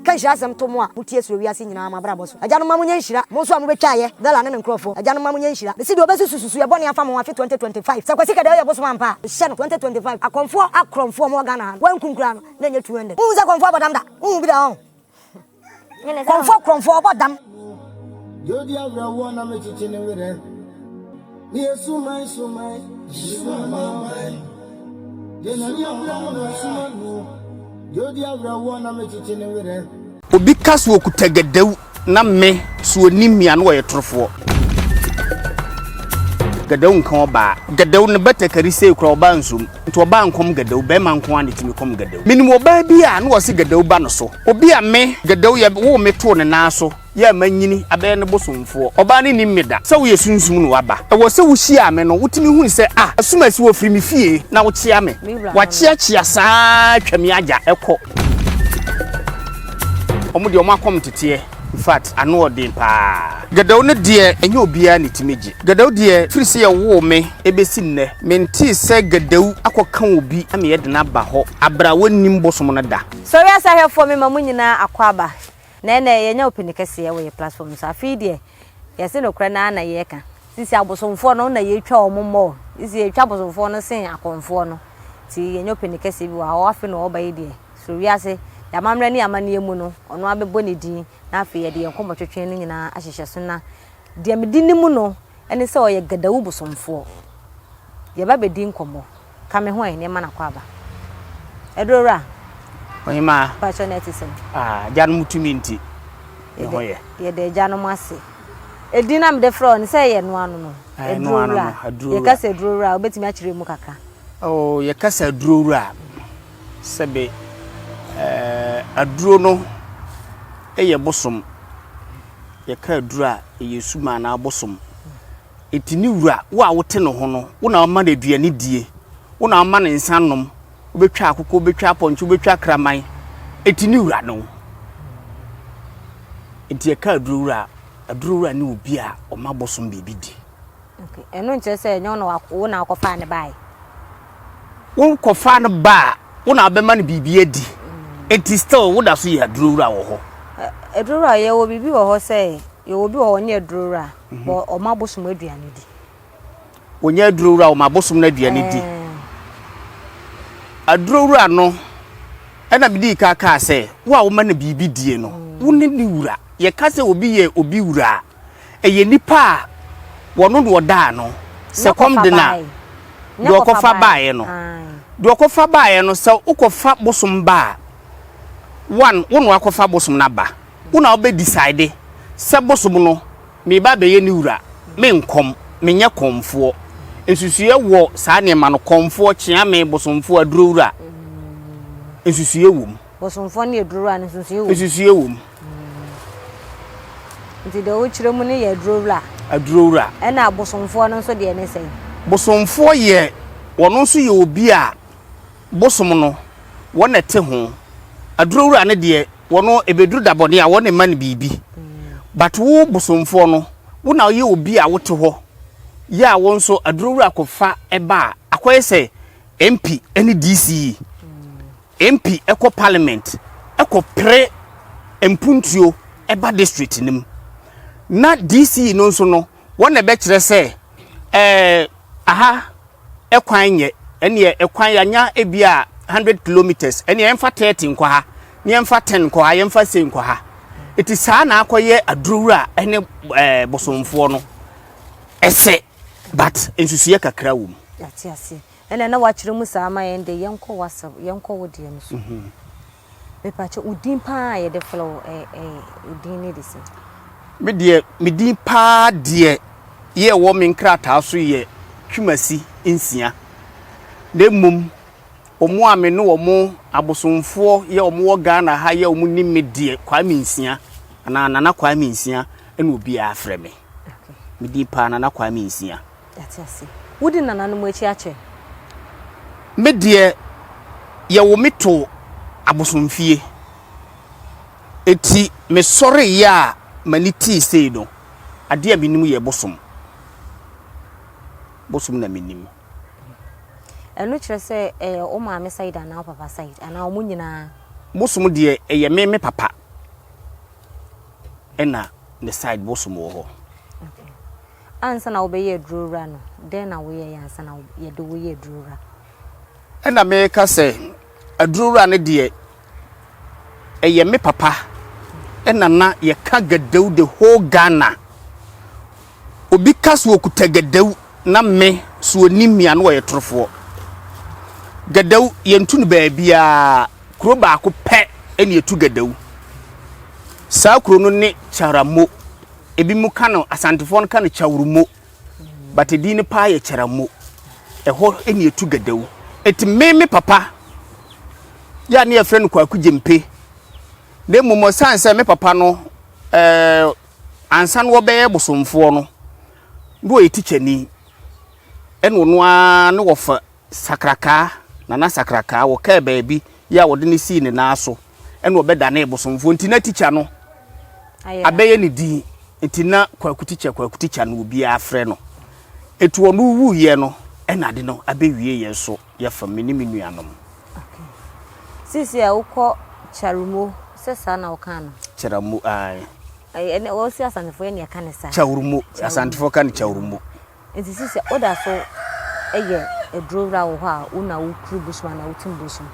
Ka nhyira asɛm to mo a mo tie suro wiase nyinaa mo abrabɔ so. Agyanom mma mo nyɛ nhyira, mo nso a mo bɛ twa ayɛ, Bella ne ne nkorɔfoɔ. Agyanom mma mo nyɛ nhyira. Mesi deɛ ɔbɛsusu susuiɛ bɔne afa mo ho afe 2025. Sɛ Kwasi Kɛdɛɛ yɛ bosom ampa a, mehyɛ no 2025 akɔmfoɔ akorɔmfoɔ a ɔmo wɔ Ghana ha no, wɔn nkum koraa no, na ɛnyɛ 200. Wonhu sɛ kɔmfoɔ bɔ dam da? Wonhu bi da hɔ ho. Kɔmfoɔ korɔmfoɔ ɔbɔ dam. Deɛ ɔdi awerɛhoɔ na mekyekye ne werɛ. Me yɛ suman suman. Sumaman. Deɛ n'ani abere no na ɔsuma no. Deɛ ɔdi awerɛhoɔ na mekyekye ne werɛ. Obi ka sɛ ɔkuta gadawu na me so ɔnim me a na ɔyɛ torofoɔ. Gadawu nka ɔbaa. Gadawu no batakari sei koraa ɔbaa nsom. Nti ɔbaa nkɔm gadawu. Bɛrima nko ara na ɛtumi kɔm gadawu. Menim ɔbaa bi a na ɔse gadawu ba no so. Obi a me, gadawu, yɛwoo me too ne nan so. Yɛ a manyini abɛyɛ ne bosomfoɔ. Ɔbaa no nnim me da. Sɛ woyɛ sunsum na woaba. Ɛwɔ sɛ wohyiaa me no, wotumi hunu sɛ, a asumasi wɔ firi me fie na wokyea me. Wɔakyeakyea saa ara twa me agya kɔ. Wɔn deɛ wɔn akɔm nteteɛ. In fact, ano yɛ den paa. Gadawu no deɛ, ɛnyɛ obiara na ɛtumi gye. Gadawu deɛ, firi sɛ yɛwoo me bɛsi nnɛ, mentee sɛ Gadawu akɔka obi ama yɛde no aba hɔ, aberɛ a wɔnnim bosom no da. Sɔre asahwɛfoɔ, mema mo nyinaa akwaaba. Na ɛnɛ yɛanya ɔpini kɛseɛ wɔ yɛ platform no so. Afei deɛ yɛse nokorɛ no ara na yɛka. Sisi abosomfoɔ no na yɛtwa wɔn mmɔ o. Sisi yɛtwa abosomfoɔ no sen akɔmfoɔ no. Nti yɛanya ɔpini kɛseɛ bi wɔ ha. Afei na ɔreba yi deɛ soro wiase, yɛ amammerɛ ne yɛ amanneɛ mu no, ɔno ara bɛbɔ ne din. Na afei yɛde yɛn nkɔmmɔtwetwe no nyinaa ahyehyɛ so. Na deɛ mede nim no ne sɛ ɔyɛ Gadawu bosomfoɔ. Yɛba bɛdi nkɔmmɔ. Ka me ho ɛ, nneɛma na kɔ aba. Aduro wura. Ohemaa. Mpakyɛ na ɛte sɛn. Ah, agyanom tumi nti. Ne ho yɛ. Yɛda agyanom ase. Edin na mede frɛ ɔne sɛ ɛyɛ ɛno ano no. Ɛno ano no, aduro wura. Yɛkasa aduro wura, wobɛtumi akyerɛ mu kakra. Oh, yɛkasa aduro wura. Sɛbe, eh, aduro no ɛyɛ bosom. Yɛka aduro a, ɛyɛ suma anaa bosom. Enti ne wura, wo a wote ne ho no, wo na woma no aduane die, wo na woma no nsã nom, wobɛtwa akokɔ, wobɛtwa apɔnkye, wobɛtwa kraman, enti ne wura ne wo. Enti ɛka aduro wura a, aduro wura ne obi a ɔma bosom biribi di. Okay, ɛno nkyerɛ sɛ ɛnyɛ wo na wakɔfaa no baeɛ? wokɔfaa no baa a wo na wobɛma no biribi adi nti still woda so yɛ adurowura wɔ hɔ. Adurowura yɛwɔ biribi wɔ hɔ sɛ yɛwɔ bi wɔ hɔ ɔnyɛ adurowura mhm. bɔ ɔma abosom aduane di. Ɔnyɛ adurowura ɔma abosom no aduane di. Adurowura no ɛna mede yi kaa kaa sɛ wo a woma no biribi die no mm. wo ne ne wura yɛka sɛ obi yɛ obi wura a Ɛyɛ nnipa a wɔno na wɔda ano. Sɛ kɔm de no a, deɛ ɔkɔfa baeɛ no. Deɛ ɔkɔfa baeɛ no, sɛ wokɔfa bosom ba a, one, wo na woakɔfa bosom no aba. Wo na wobɛ decide sɛ bosom no, mereba abɛyɛ ne wura. Me nkɔm, menyɛ kɔmfoɔ. Nsusuiɛ wɔ saa nneɛma no, kɔmfoɔ, kyeame, bosomfoɔ, adurowura. Nsusuiɛ wɔ mu. Bosomfoɔ ne adurowura no nsusuiɛ wɔ mu. Nsusuiɛ wɔ mu. Nti deɛ wokyerɛ mu no yɛ adurowura. Adurowura. Ɛna abosomfoɔ no nso deɛ ne sɛn? Bosomfoɔ yɛ wɔn nso yɛ obi a bosom no wɔn na ɛte ho. Adurowura no deɛ wɔn ɛbɛduru da bɔne a wɔn na ɛma no biribi. But wo bosomfoɔ no wo na woyɛ obi a wote hɔ yɛ a wo nso adurowura kɔfa ɛba a akɔyɛ sɛ MP ne DC. MP kɔ parliament kɔ pere mpuntuo ba district no mu na DC no nso no wɔn na ɛbɛkyerɛ sɛ ɛɛ aha ɛkwan nyɛ ɛneɛ ɛkwan yanya ebi a hundred kilometres ɛneɛ yɛmfa thirty nkɔ ha ne yɛmfa ten nkɔ ha yɛmfa sei nkɔ ha eti saa na akɔyɛ adurowura ɛne ɛɛ bosomfoɔ no ɛsɛ but nsusuiɛ kakra wɔ mu. Ɛna na wakyerɛ mu saa ama yɛn deɛ yɛnkɔ w'asɛm yɛnkɔ wo deɛ no so mepakyɛ wo din paa a yɛde frɛ wo ɛɛ din ne de sɛ. Me deɛ me din paa deɛ yɛ ɛwɔ me nkrataa so yɛ Twumasi nsia na mmom wɔn a me ne wɔn abosomfoɔ yɛ wɔn wɔ Ghana ha yɛ wɔn nim me deɛ Kwame nsia anaa Nana Kwame nsia ɛna obiara frɛ me me din paa Nana Kwame nsia. Yɛate ase. Wodi nananom akyi akyɛ. Me deɛ yɛwo me too abosomfie. Enti me sɔreeɛ a m'ani tee sei no, adeɛ a menim yɛ bosom. Bosom na menim. Ɛno kyerɛ sɛ ɛyɛ wo maame side anaa wo papa side anaa wɔn nyinaa? Bosom deɛ ɛyɛ me me papa ɛna ne side bosom wɔ hɔ. Ansa na wobɛyɛ aduroura no, dɛn na woyɛeɛ ansa na yɛde wo yɛ aduroura? Ɛnna meka sɛ, Aduroura no deɛ, ɛyɛ me papa na na yɛka Gadau the whole Ghana. Obi ka sɛ ɔkuta Gadau na me so ɔnim me a na ɔyɛ torofoɔ. Gadau yɛntu no baabiara, kuro baako pɛ na yɛtu Gadau. Saa kuro no ne Kyaramo. Ebinom ka no, Asantefoɔ no ka no Kyawrmo, but edin no paa yɛ Kyaramo. Ɛhɔ na etu Gadawu. Eti me me papa yɛ a ne yɛfrɛ no Kwaku Gyempe. Na mmom ɔsan sɛ me papa no ɛɛ ansa na wɔbɛyɛ bosomfoɔ no, na ɔyɛ tikyani. Ɛna ɔno ara na wɔfa Sakrakaa, Nana Sakrakaa, wɔkaa baabi yi a wɔde no sii ne nan so na ɔbɛdanee bosomfoɔ nti na tikya no abɛyɛ ne din nti na Kwaku Tikya Kwaku Tikya no obiara frɛ no nti ɔno wuiɛ no na ade no abɛwie yɛn nso yɛfam me ne me nuanom. Sisi a wokɔ Kyarumo sɛ saa na wokaa no? Kyarumo, ae. Wɔsi Asantefoɔ yɛ ne ɛka ne saa. Kyarumo, Asantefoɔ ka ne Kyarumo. Ntsi si sɛ woda so yɛ eduowura wɔ hɔ a, wo na wo kuru bosom anaa wo tsir bosom.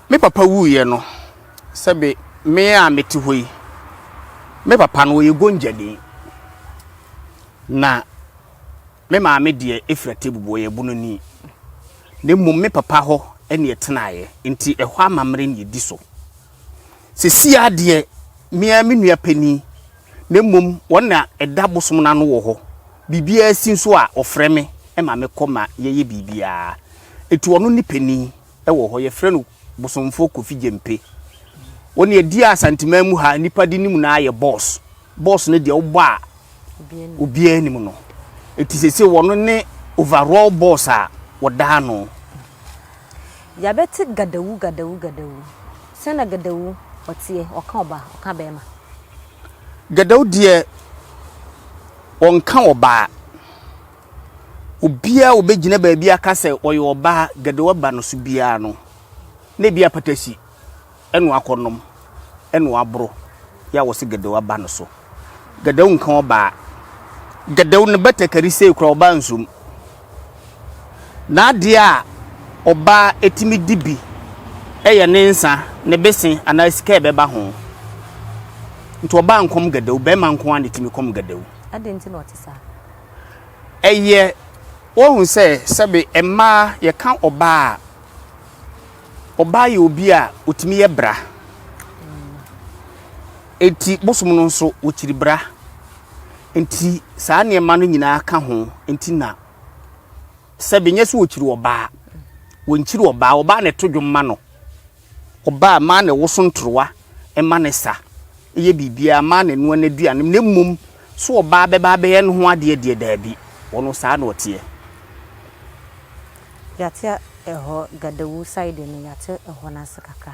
Me papa wuiɛ no, sɛ be me a mete hɔ yi, me papa no ɔyɛ Gonjani, na me maame deɛ ɛfiri Atebubu, ɔyɛ Bununi. Na mmom me papa hɔ na yɛtenaeɛ, nti ɛhɔ amammerɛ na yɛdi so. Seesei ara deɛ, me ara me nua panin, na mmom wɔn na ɛda bosom no ano wɔ hɔ. Biribiara si nso a, wɔfrɛ me ma mekɔ ma yɛyɛ biribiara. Enti ɔno ne panin wɔ hɔ. Wɔfrɛ no Bosomfoɔ Kofi Gyempe. Wo deɛ, di a Asanteman mu ha nnipa de nim no ara yɛ Boss. Boss ne deɛ wobɔ a obiara nim no. Eti sese wɔno ne overall boss a wɔda ano. Yɛabɛte Gadawu Gadawu Gadawu. Sɛn na Gadawu ɔteɛ? Ɔka ɔbaa, ɔka barima. Gadawu deɛ ɔnka ɔbaa. Obiara a ɔbɛgyina baabi aka sɛ ɔyɛ ɔbaa, Gadawu aba no so biara no, na ebi apata si. Ɛna ɔakɔ nom, ɛna ɔaboro yɛ a wɔse Gadau aba no so. Gadau nka ɔbaa. Gadau ne Batakari sei koraa ɔbaa nsom. N'adeɛ a ɔbaa tumi di bi yɛ ne nsa, ne bese anaa sika a ɛbɛba ho. Nti ɔbaa nkɔm Gadau, barima nko ara na ɛtumi kɔm Gadau. Adɛn nti na ɔte saa? Ɛyɛ, woahu sɛ sɛbe mmaa yɛka ɔbaa a. Ɔbaa yɛ obi a ɔtumi yɛ bra. Enti bosom no nso, wɔkyiri bra. Enti saa nneɛma no nyinaa ka ho nti na sɛbe nyɛ sɛ wɔkyiri ɔbaa. Wɔnkyiri ɔbaa. Ɔbaa na ɛto dwom ma no. Ɔbaa mmaa na ɛwoso ntorowa ma no sa, yɛ biribiara, mmaa na ɛnoa n'aduane. Na mmom sɛ ɔbaa bɛba abɛyɛ ne ho adeɛ deɛ, daabi. Ɔno saa na ɔteɛ. Yɛate ɛhɔ Gadawu side no yɛate ɛhɔ no ase kakra.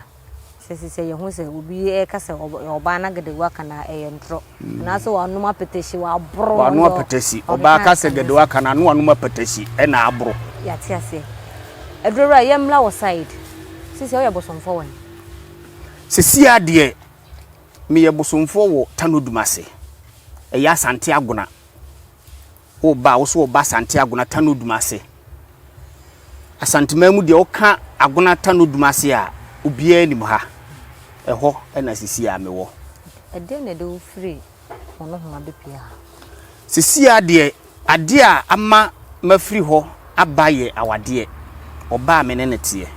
Sɛ sisɛ yɛhu sɛ obi ɛka sɛ ɔbaa na Gadawu aka no a ɛyɛ ntorɔ. Anaasɛ wanom apɛtɛsi waboro. Wano apɛtɛsi. Ɔbaa ka sɛ Gadawu aka no a na wanom apɛtɛsi ɛna aboro. Yɛate aseɛ. Adurowura yɛmmra wo side. Sisɛ woyɛ bosomfoɔ wɔ he? Sesia deɛ meyɛ bosomfoɔ wɔ Tano Dumase. Ɛyɛ Asante Agona. Wo ba a, wo so wɔ ba Asante Agona Tanodum ase. Asanteman mu deɛ woka Agona Tanodum ase a, obiara nim ha. Ɛhɔ na sesie ara mewɔ. Ɛdeɛn na ɛde wo firi Onohoma bɛpue ha? Sesie ara deɛ, adeɛ a ama mafiri hɔ aba yɛ awadeɛ. Ɔbaa a me ne no teɛ.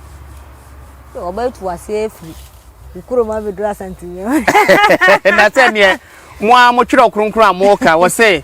So wɔbɛtu wo aseɛ afiri wo kurom abɛduru Asante Nyan? Na sɛdeɛ mo ara motwerɛ kronkron a moka, wɔse.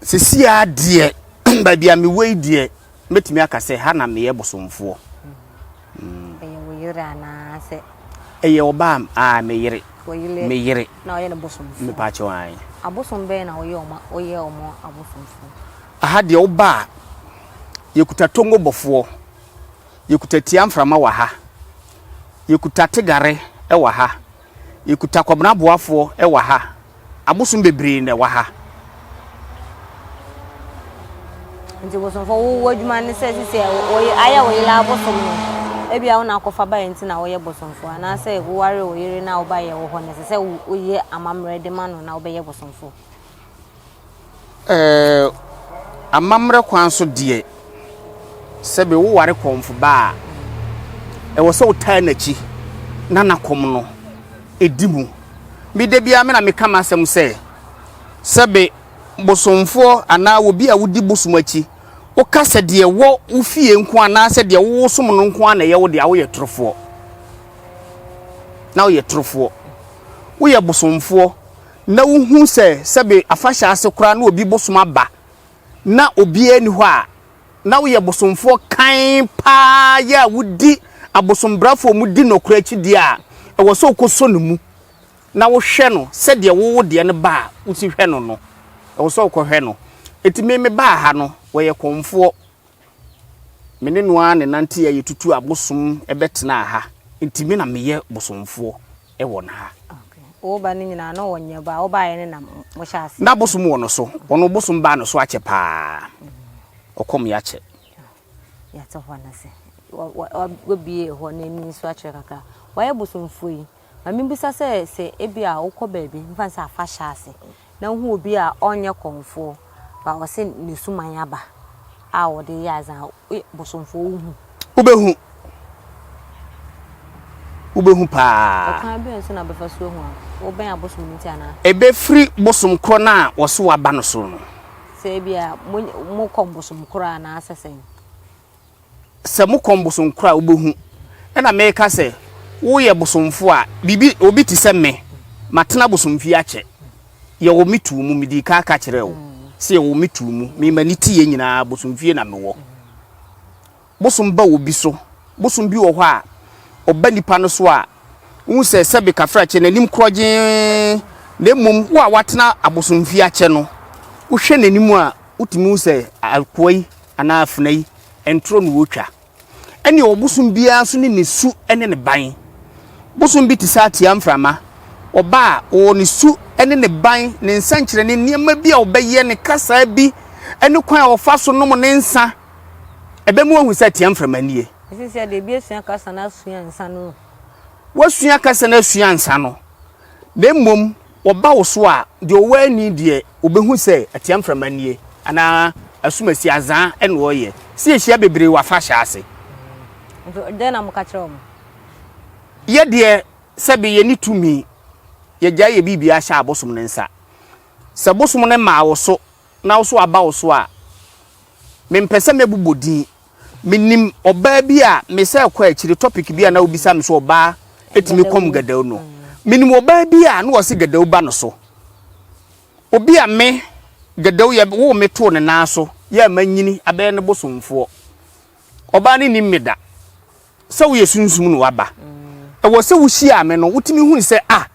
Seesei ara deɛ, baabi a mewɔ yi deɛ, mɛtumi aka sɛ ha na meyɛ bosomfoɔ. Ɛyɛ wo yere anaasɛ? Ɛyɛ ɔbaa a me yere. Me yere. Na ɔyɛ ne bosomfoɔ. Mepaakyɛ wɔn ae. Abosom bɛyɛ na ɔyɛ ɔma ɔyɛ ɔmo abosomfoɔ. Aha deɛ woba a, yɛkuta tongo bɔfoɔ, yɛkuta tia mframa wɔ ha, yɛkuta tegare wɔ ha. yɛkuta Kwabena Boafoɔ wɔ ha, abosom bebree na ɛwɔ ha. Nti bosomfoɔ wo w'adwuma ne sɛ sisi a wɔyɛ ayɛ wo yere abosom no ebi a wo na akɔfa ba yɛ nti na wɔyɛ bosomfoɔ anaasɛ woware wo yere na wo ba yɛ wɔ hɔ na ɛsɛ sɛ woyɛ amammerɛ de ma no na wobɛyɛ bosomfoɔ. Ɛɛ, amammerɛ kwan so deɛ, sɛbe woware kɔmfoba a, ɛwɔ sɛ wotaa n'akyi na na kɔm no di mu. Me da biara me na meka m'asɛm sɛ, sɛbe bosomfoɔ anaa obi a wodi bosom akyi, woka sɛ deɛ ɛwɔ wo fie nko anaasɛ deɛ wosom no nko ara na ɛyɛ wo dea, woyɛ torofoɔ. Na woyɛ torofoɔ. Woyɛ bosomfoɔ. na wohu sɛ sɛbe afahyɛ ase koraa na obi bosom aba na obiara nni hɔ a, na woyɛ bosomfoɔ kann paa yɛ a wodi abosombrafoɔ a wɔdi nɔkorɛ akyi deɛ a, ɛwɔ sɛ wokɔsɔ no mu na wohwɛ no sɛdeɛ wo wo deɛ no ba a wosi hwɛ no no. Ɛwɔ sɛ wokɔhwɛ no. Enti me mebaa ha no, wɔyɛ kɔmfoɔ. Me ne no ara na ɛnanteeɛ a yɛtutuu abosom bɛtenaa ha. Enti me na meyɛ bosomfoɔ. wɔ no ha. Wo ba no nyinaa na ɔwɔ nyɛ ba a ɔbaeɛ ne na mohyɛ ase. Na bosom wɔ no so ɔno bosom baa no so akyɛ paa ɔkɔm yɛakyɛ. Yɛate hɔ no ase wabie hɔ no ani nso akyerɛ kakra wayɛ bosomfoɔ yi ma mebisa sɛ sɛ ebi a wokɔ baabi mfa sɛ afa hyɛ ase Na wohu obi a ɔnnyɛ kɔmfoɔ, ba ɔse ne suman aba a ɔde yɛ adze a, woyɛ bosomfoɔ wohu. Wobɛhu, wobɛhu paa. Ɛkwan bɛn so na wobɛfa so ahu a wobɛn abosom no nti anaa? Ɛbɛfiri bosom korɔ no a wɔse woaba no so no. Sɛ ebia mo, mokɔ bosom korɔ a anaasɛ sɛn? sɛ mo kɔn bosonkoro a wobɛhu na mereka sɛ woyɛ bosomfoɔ a biribi obi te sɛ me matena bosomfie akyɛ yɛwɔ me tuu mu medii ka ka kyerɛ wo sɛ yɛwɔ me tuu mu me ma ne ti yɛ nyinaa bosomfie na mewɔ bosom ba obi so bosom bi wɔ hɔ a ɔba nipa no so a Wohu sɛ sɛbe kafrakye no anim korɔgyee, na mmom wo a woatena abosomfi akyɛ no, wohwɛ n'anim a, wotumi hu sɛ akoa yi anaa afena yi, ntoro na ɔretwa. Ɛnneɛ ɔbosom biara nso ne ne su ne ne ban. Bosom bi te sɛ ateaa mframa. Ɔba a, ɔwɔ ne su ne ne ban, ne nsɛnkyerɛnne, nneɛma bi a ɔbɛyɛ, ne kasaa bi, ne kwan a ɔfa so nom ne nsã. Ɛbɛma wɔahu sɛ ɛteɛ mframa nie. Ɛsɛ sɛ deɛ ebi asua kasa na asua nsa no. Wasua kasa na asua nsa no, na mmom wɔba wo so a, deɛ ɔwɔ ani deɛ ɔbɛhu sɛ ɛteɛ mframa nie anaa asumasi azaa ɛna ɔreyɛ. Sɛ yɛhyia bebree wɔ afahyɛ ase. Nti dɛn na moka kyerɛ wɔn? Yɛ deɛ sɛbe yɛne tumi, yɛgyae yɛ biribiara hyɛ abosom no nsa. Sɛ bosom no maa wo so na wo so aba wo so a, Mempɛ sɛ mɛbobɔ din. Menim ɔbaa bi a mesɛɛ kɔɔ akyire topic bi a na wobisa me sɛ ɔbaa ɛtumi kɔm Gadawu no. Menim ɔbaa bi a na ɔse Gadawu ba no so. Obi a me, Gadawu, yɛ woo me too ne nan so yɛ a manyini abɛyɛ ne bosomfoɔ. Ɔbaa no nnim me da. Sɛ woyɛ sunsum na waba. Ɛwɔ sɛ wohyiaa me no wotumi hunu sɛ ah,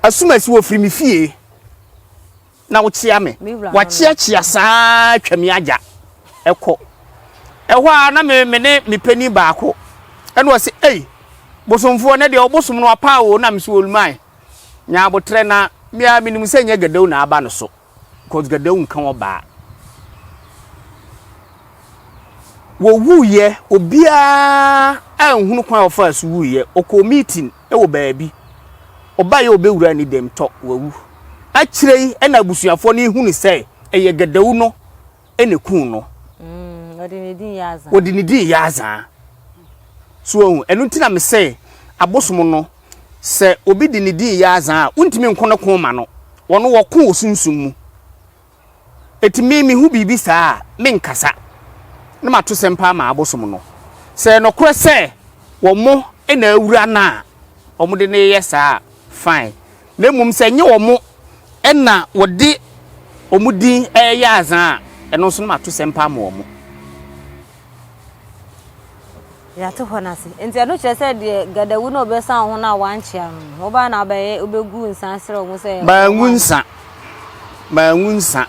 Asumasi ɔfiri me fie. na wokyea me. Wɔakyeakyea saa ara twa me agya kɔ. Ɛhɔ ara na me me ne me panin baako ɛna ɔse, Ei, bosomfoɔ, nɛ deɛ ɔbosom no apaa o, na mese, Olmai, nya aboterɛ na me ara menim sɛ nyɛ Gadau na aba no so, cos Gadau nka ɔbaa. Wɔwuiɛ, obiara anhunu kwan a ɔfaa so wuiɛ, ɔkɔɔ meeting. wɔ baabi. Ɔbaeɛ a ɔbɛwura ne dɛm tɔ, wawu. Akyire yi na abusuafoɔ no hunu sɛ ɛyɛ Gadawu no na ɛkuu no. Wɔde ne din yɛ azaa. Wɔde ne din yɛ azaa. So wahu? Ɛno nti na mesɛ abosom no, sɛ obi de ne din yɛ azaa a, wontumi nko ne ko ma no. Wɔno wɔko wɔ sunsum mu. Enti me mehu biribi saa a, menkasa, na mato sɛm paa ma abosom no. Sɛ ɛyɛ nokorɛ sɛ wɔn na awura no a wɔde no reyɛ saa a, fine, na mmom sɛ ɛnyɛ wɔn na wɔde wɔn din reyɛ adze a, ɛno nso na mato sɛm paa ma wɔn. Yɛate hɔ no ase. Nti ɛno kyerɛ sɛ deɛ gadawu na ɔbɛsa wo ho no a wankyea no no, wobaa na wobɛyɛ wobɛgu nsa serɛ wo ho sɛ. Mangu nsa. Mangu nsa.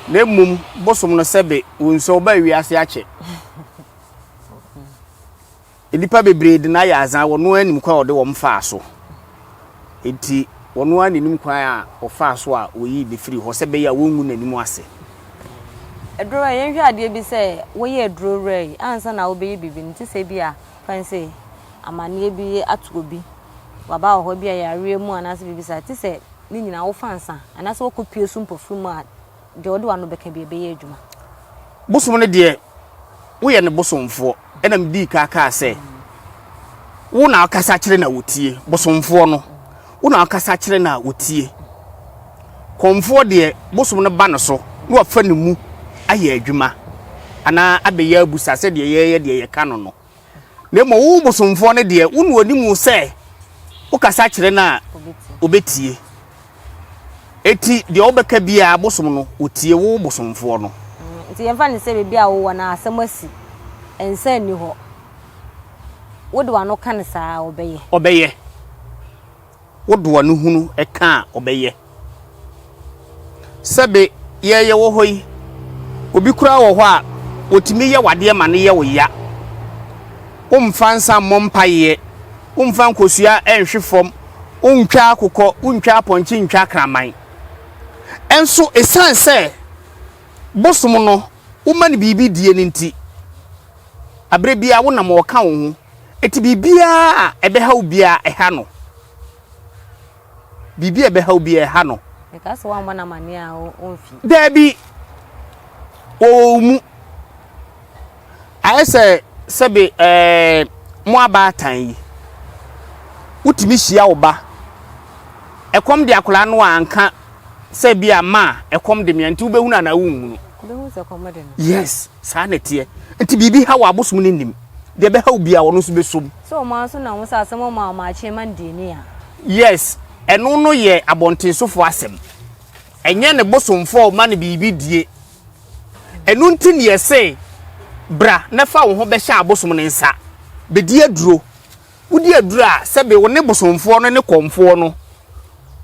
Na mmom bosom no sɛbe wo nsuo wobaa wiase akyɛ. Nnipa bebree de no ayɛ adza wɔn ara nim kwan a wɔde wɔn faa so. Enti wɔn ara na enim kwan a wɔfaa so a wɔyii no firii hɔ sɛ ɛbɛyɛ a wɔrengu n'anim ase. Aduro wura yi, yɛnhwɛ adeɛ bi sɛ woyɛ aduro wura yi ansa na wobɛyɛ biribi no, te sɛ ebi a fɛn sɛ amanneɛ bi ato obi, waba wɔ hɔ ebi a yareɛ mu anaasɛ biribi saa, te sɛ ne nyinaa wofa nsa anaasɛ wokɔpue so mpofirim a deɛ wode w'ano bɛka bi ɛbɛyɛ adwuma. Bosom no deɛ, woyɛ ne bosomfoɔ. Ɛna medii ka kaa sɛ, Wo na wokasa kyerɛ na wɔtie. Bosomfoɔ no, wo na wokasa kyerɛ na wɔtie. Kɔmfoɔ deɛ, bosom no ba ne so na wafa ne mu ayɛ adwuma anaa abɛyɛ abusa sɛdeɛ yɛyɛ deɛ yɛka no no. Na mmom wo bosomfoɔ no deɛ, wo na ɔnim wo sɛ wokasa kyerɛ no a, ɔbɛtie. Enti deɛ wobɛka biara bosom no, ɔtie wo bosomfoɔ no. Nti yɛmfa no sɛ baabi a wowɔ no asɛm asi, nsa nni hɔ. Wode w'ano ka no saa a, ɔbɛyɛ? Ɔbɛyɛ. Wo doa no hunu ɛka a ɔbɛyɛ. Sɛbe yɛ yɛ wɔ hɔ yi, obi koraa wɔ hɔ a, wɔtumi yɛ w'adeɛ ma no yɛ wo ya. Wo mfa nsa mmɔ mpaeɛ, wo mfa nkosua nhwe fam, wo ntwa akokɔ, wo ntwa apɔnkye ntwa akraman. Nso ɛsiane sɛ bosom no wo ma no biribi die no nti, aberɛ biara wo nam ɔka wo ho. Enti biribiara a ɛbɛhaw biara, ɛha no. Biribi a ɛbɛhaw biara, ɛha no. Ɛka sɛ woammɔ no amanneɛ a ɔmfi. Daabi, wɔwɔ wo mu. Ayɛ sɛ sɛbe ɛɛ mo abaatan yi, wotumi hyia wo ba. Ɛkɔm de akwadaa no a anka. sɛ bi a ma ɛkɔm de mea nti wobɛhunu anaa wonhunu yes saa na ɛteɛ nti biribi ha wɔ abosom no nim deɛ ɛbɛha wo bia ɔno nso bɛsom yes ɛno no yɛ abɔntensofoɔ asɛm ɛnyɛ ne bosomfoɔ ɔma no biribi die ɛno nti ne yɛse bra na fa wo ho bɛhyɛ abosom no nsa bɛdi aduro Wodi aduru a, sɛbe wo ne bosomfoɔ no ne kɔmfoɔ no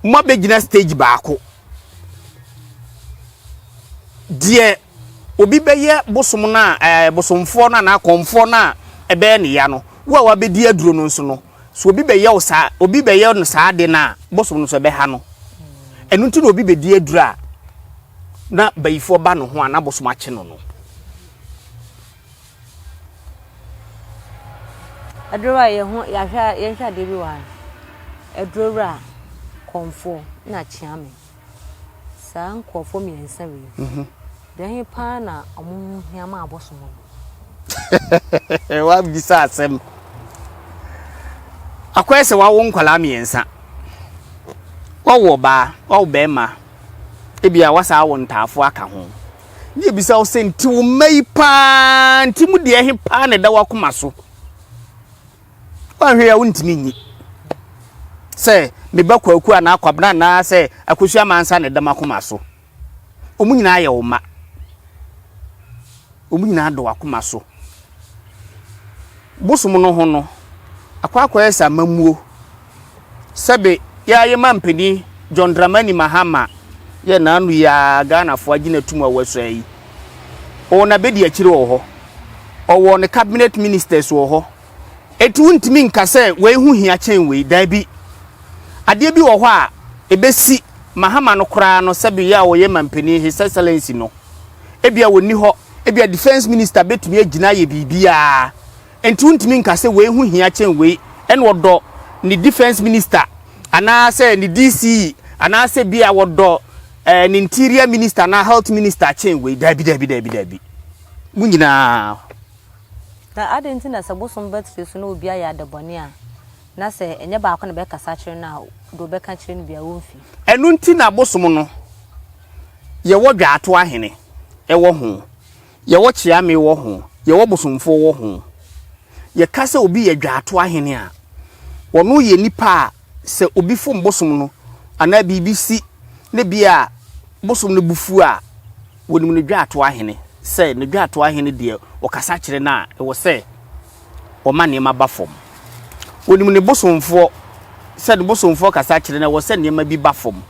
moabɛgyina stage baako. Deɛ obi bɛyɛ bosom no a, ɛɛ, bosomfoɔ no anaa kɔmfoɔ no a ɛbɛyɛ ne ya no, wo a woabɛdi aduro no nso no, sɛ obi bɛyɛ wo saa, obi bɛyɛ no saa ade no a, bosom no nso ɛbɛha no. Ɛno nti na obi bɛdi aduru a, na bayifoɔ ba ne ho a, na bosom akye no no. Aduro a yɛho yɛahwɛ a yɛnhwɛ adeɛ bi wɔ ha. Aduro wura kɔmfoɔ na kyeame. Saa nkurɔfoɔ mmiɛnsa wei. Mhm. Deɛ he paa na ɔmo ho hia ma abosom no. Wabisa asɛm. Akɔyɛ sɛ wawo nkwadaa mmiɛnsa. Wawo ɔbaa, wawo bɛrima. Ebia wasaa awo ntaafoɔ aka ho. na yɛbisa wo sɛ nti wo mma yi paa nti mu deɛ he paa na ɛda w'akoma so woanhwɛ a wontumi nyi sɛ meba kwaku anaa kwabena anaa sɛ akɔsu amansa na ɛda m'akoma so wɔn nyinaa yɛ wo mma wɔn nyinaa dɔ w'akoma so bosom no ho no akɔ akɔyɛ sɛ amamuo sɛbe yɛa yema mpani John Dramani Mahama yɛ naanu yi aa Ghanafoɔ agye no atum a wasua yi. Ɔwɔ nabedi akyire wɔ hɔ. Ɔwɔ ne cabinet ministers wɔ hɔ. Eti wontumi nka sɛ wei ho hia kyɛn wei, daabi. Adeɛ bi wɔ hɔ a ɛbɛsi Mahama no koraa no sɛbe yɛa ɔyɛ mampanin His Excellency no, ebia ɔnni hɔ, ebia defence minister bɛtumi agyina ayɛ biribiara. Enti wontumi nka sɛ wei ho hia kyɛn wei ɛna ɔdɔ ne defence minister anaa sɛ ne DCE anaa sɛ bi a wɔdɔ eh, ne interior minister anaa health minister kyɛn wei. Daabi, daabi, daabi, daabi. Mo nyinaa. Na adɛn nti na sɛ bosom bɛtete so na obi ayɛ adebɔne a, na sɛ ɛnyɛ baako na bɛkasa akyerɛ no a, deɛ ɔbɛka akyerɛ no biara ɔmfi? Ɛno nti na bosom no yɛwɔ dwaato ahene ɛwɔ ho. Yɛwɔ kyeame wɔ ho, yɛwɔ bosomfoɔ wɔ ho. Yɛka sɛ obi yɛ dwaatoa hene a, ɔno yɛ nipa a sɛ obi fom bosom no anaa biribi si ne bea a bosom no bo fu a, wɔnim no dwaatoa hene. Sɛ ne dwaatoa hene deɛ ɔkasa kyerɛ no a, ɛwɔ sɛ ɔma nneɛma ba fam. Wɔnim ne bosomfoɔ, sɛ ne bosomfoɔ kasa kyerɛ no a, ɛwɔ sɛ nneɛma bi ba fam.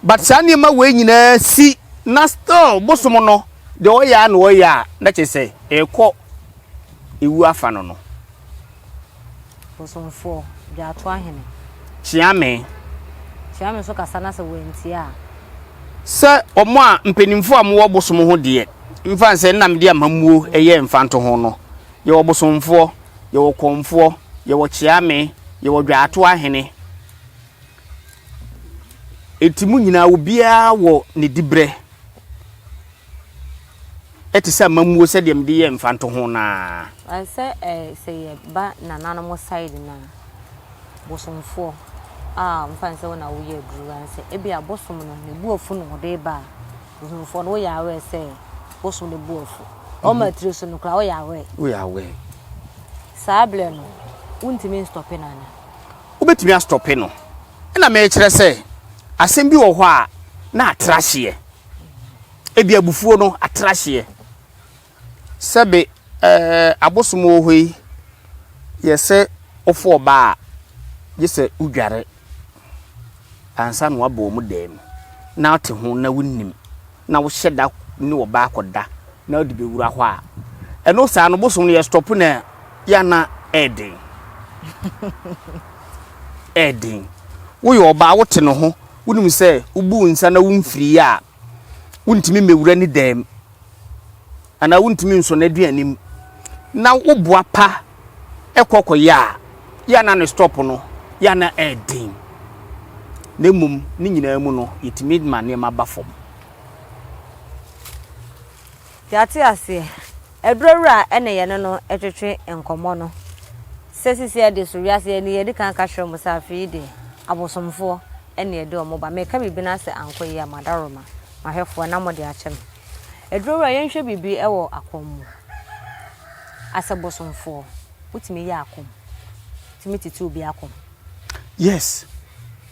but saa nneɛma wei nyinaa si na still bosom no deɛ ɔyɛ a na ɔyɛ a na kyerɛ sɛ ɛrekɔ ewu afa no no. Bosomfoɔ, gya ato ahene. Kyeame. Kyeame nso kasa na sɛ wɔantie a. Sɛ wɔn a mpanimfoɔ a wɔwɔ bosom ho deɛ mfa nsɛ Nnamdi Amammuo yɛ mfanto ho no, yɛwɔ bosomfoɔ, yɛwɔ kɔmfoɔ, yɛwɔ kyeame, yɛwɔ dwa ato ahene. Enti mo nyinaa, obiara wɔ ne dibrɛ te sɛ amammuo sɛdeɛ mede yɛɛ mfantoho no ara. Sɛ sɛ yɛba nananom side no a, bosomfoɔ a mfa ne sɛ wo na woyɛ aduru ansɛ, ebi a bosom no ne bo afu na ɔde ba a, bosomfoɔ no woyɛ aware sɛ bosom no bo afu. Ɔma tiri so no koraa woyɛ aware. Woyɛ aware. Saa berɛ no, wontumi nstɔpe no ana? wobɛtumi astɔpe no. Ɛna merekyerɛ sɛ asɛm bi wɔ hɔ a na atra hyeɛ. Ebi abufuo no atra hyeɛ. Sɛbe ɛɛ abosom wɔ hɔ yi yɛsɛ wofo ɔbaa a gye sɛ wodware. Ansa na woaba wɔn dan mu, na wote ho na wonnim, na wohyɛ da ne ɔbaa akɔda na wode bɛwura hɔ a, ɛno saa no bosom no yɛstɔpo no a, yɛ a na ɛyɛ den. Ɛyɛ den. Woyɛ ɔbaa, wote ne ho, wonim sɛ wobuu nsa na womfirii a, wontumi mmɛwura ne dan mu anaa wontumi nsɔ n'aduane mu na woboa pa kɔ kɔyɛ a, yɛ a na ne stɔpo no yɛ a na ɛyɛ den. Na mmom ne nyinaa mu no, yɛtumi ma nneɛma ba fam. Yɛate aseɛ. Aduro awura a ɛne yɛne no twetwe nkɔmmɔ no sɛ sisi ɛde so wiase yɛ ne yɛn adikan aka kyerɛ mo sɛ afei yi deɛ abosomfoɔ ne ɛde wɔn ba. Meka biribi na sɛ ankɔ yie a m'adaworoma, m'ahwɛfoɔ na mode akyɛ me. Aduro awura yɛnhwɛ biribi wɔ akɔm mu asɛ bosomfoɔ wotumi yɛ akɔm tumi tete obi akɔm. Yes.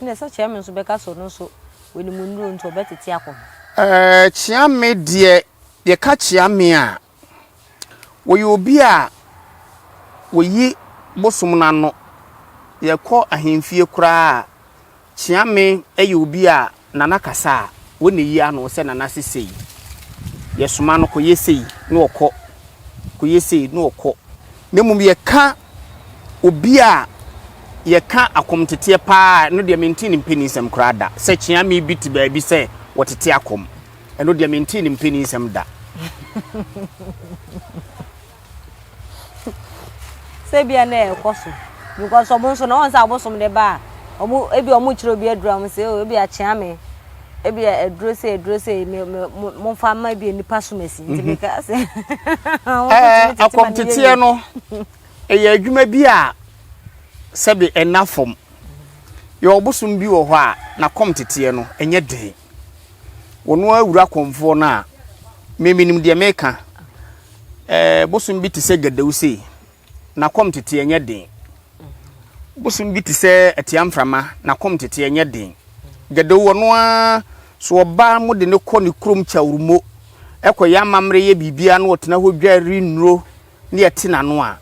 Ɛnna sɛ Kyeame nso bɛka sɛ ɔno nso wanim nnuro nti ɔbɛtete akɔ ho. Ɛɛ, Kyeame deɛ, yɛka Kyeame a, wɔyɛ obi a wɔyi bosom no ano. Yɛkɔ ahemfie koraa a, Kyeame yɛ obi a Nana kasa a, wɔ na yi ano sɛ Nana se sei, yɛ soma no kɔ yɛ sei na ɔkɔ, kɔ yɛ sei na ɔkɔ. Na mmom yɛ ka obi a yɛ ka akɔm teteɛ paa a, ɛno deɛ me ntee ne mpanin nsɛm koraa da. Sɛ Kyeame bi te baabi sɛ wɔtete akɔm, ɛno deɛ me ntee ne mpanin nsɛm da. Sɛ ebia na ɛkɔ so because ɔmo nso na wɔn sɛ abosom de ba a ɔmo ebia ɔmo kyerɛ obi aduro a mo sɛ o ebia kyea me ebia aduro sɛ aduro sɛ me me mo nfa ma ebia nipa som asi nti mi ka sɛ. Ɛɛ akɔmteteɛ no ɛyɛ adwuma bi a sɛbi ɛna fam yɛ ɔbosom bi wɔ hɔ a na kɔmteteɛ no ɛnyɛ den. Wo no ara wura kɔmfoɔ no a, me menim deɛ meka. Ɛɛ bosom bi te sɛ gadawu sei, n'akɔm tete ɛnyɛ den. Bosom bi te sɛ atia mframa, n'akɔm tete ɛnyɛ den. Gadawu wɔ no ara, so ɔba mo de no kɔ ne kurom kyawurmo, ɛkɔyɛ amammerɛ yɛ biribiara na ɔtena hɔ dwa rennuro. ne yɛte n'ano a,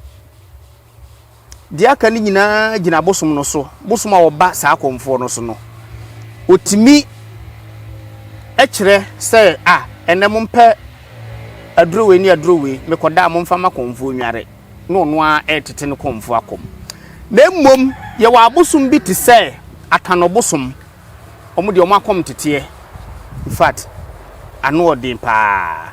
deɛ aka no nyinaa gyina bosom no so, bosom a wɔba saa akɔmfoɔ no so no. Wɔtumi kyerɛ sɛ a ɛnɛ mompɛ aduro wei ne aduro wei mekɔda a momfa ma kɔmfoɔ nware na ɔno ara ɛretete no kɔmfoɔ akɔm. Na mmom yɛwɔ abosom bi te sɛ akanɔ bosom, wɔn deɛ wɔn akɔm teteɛ, in fact ano ɔden paa.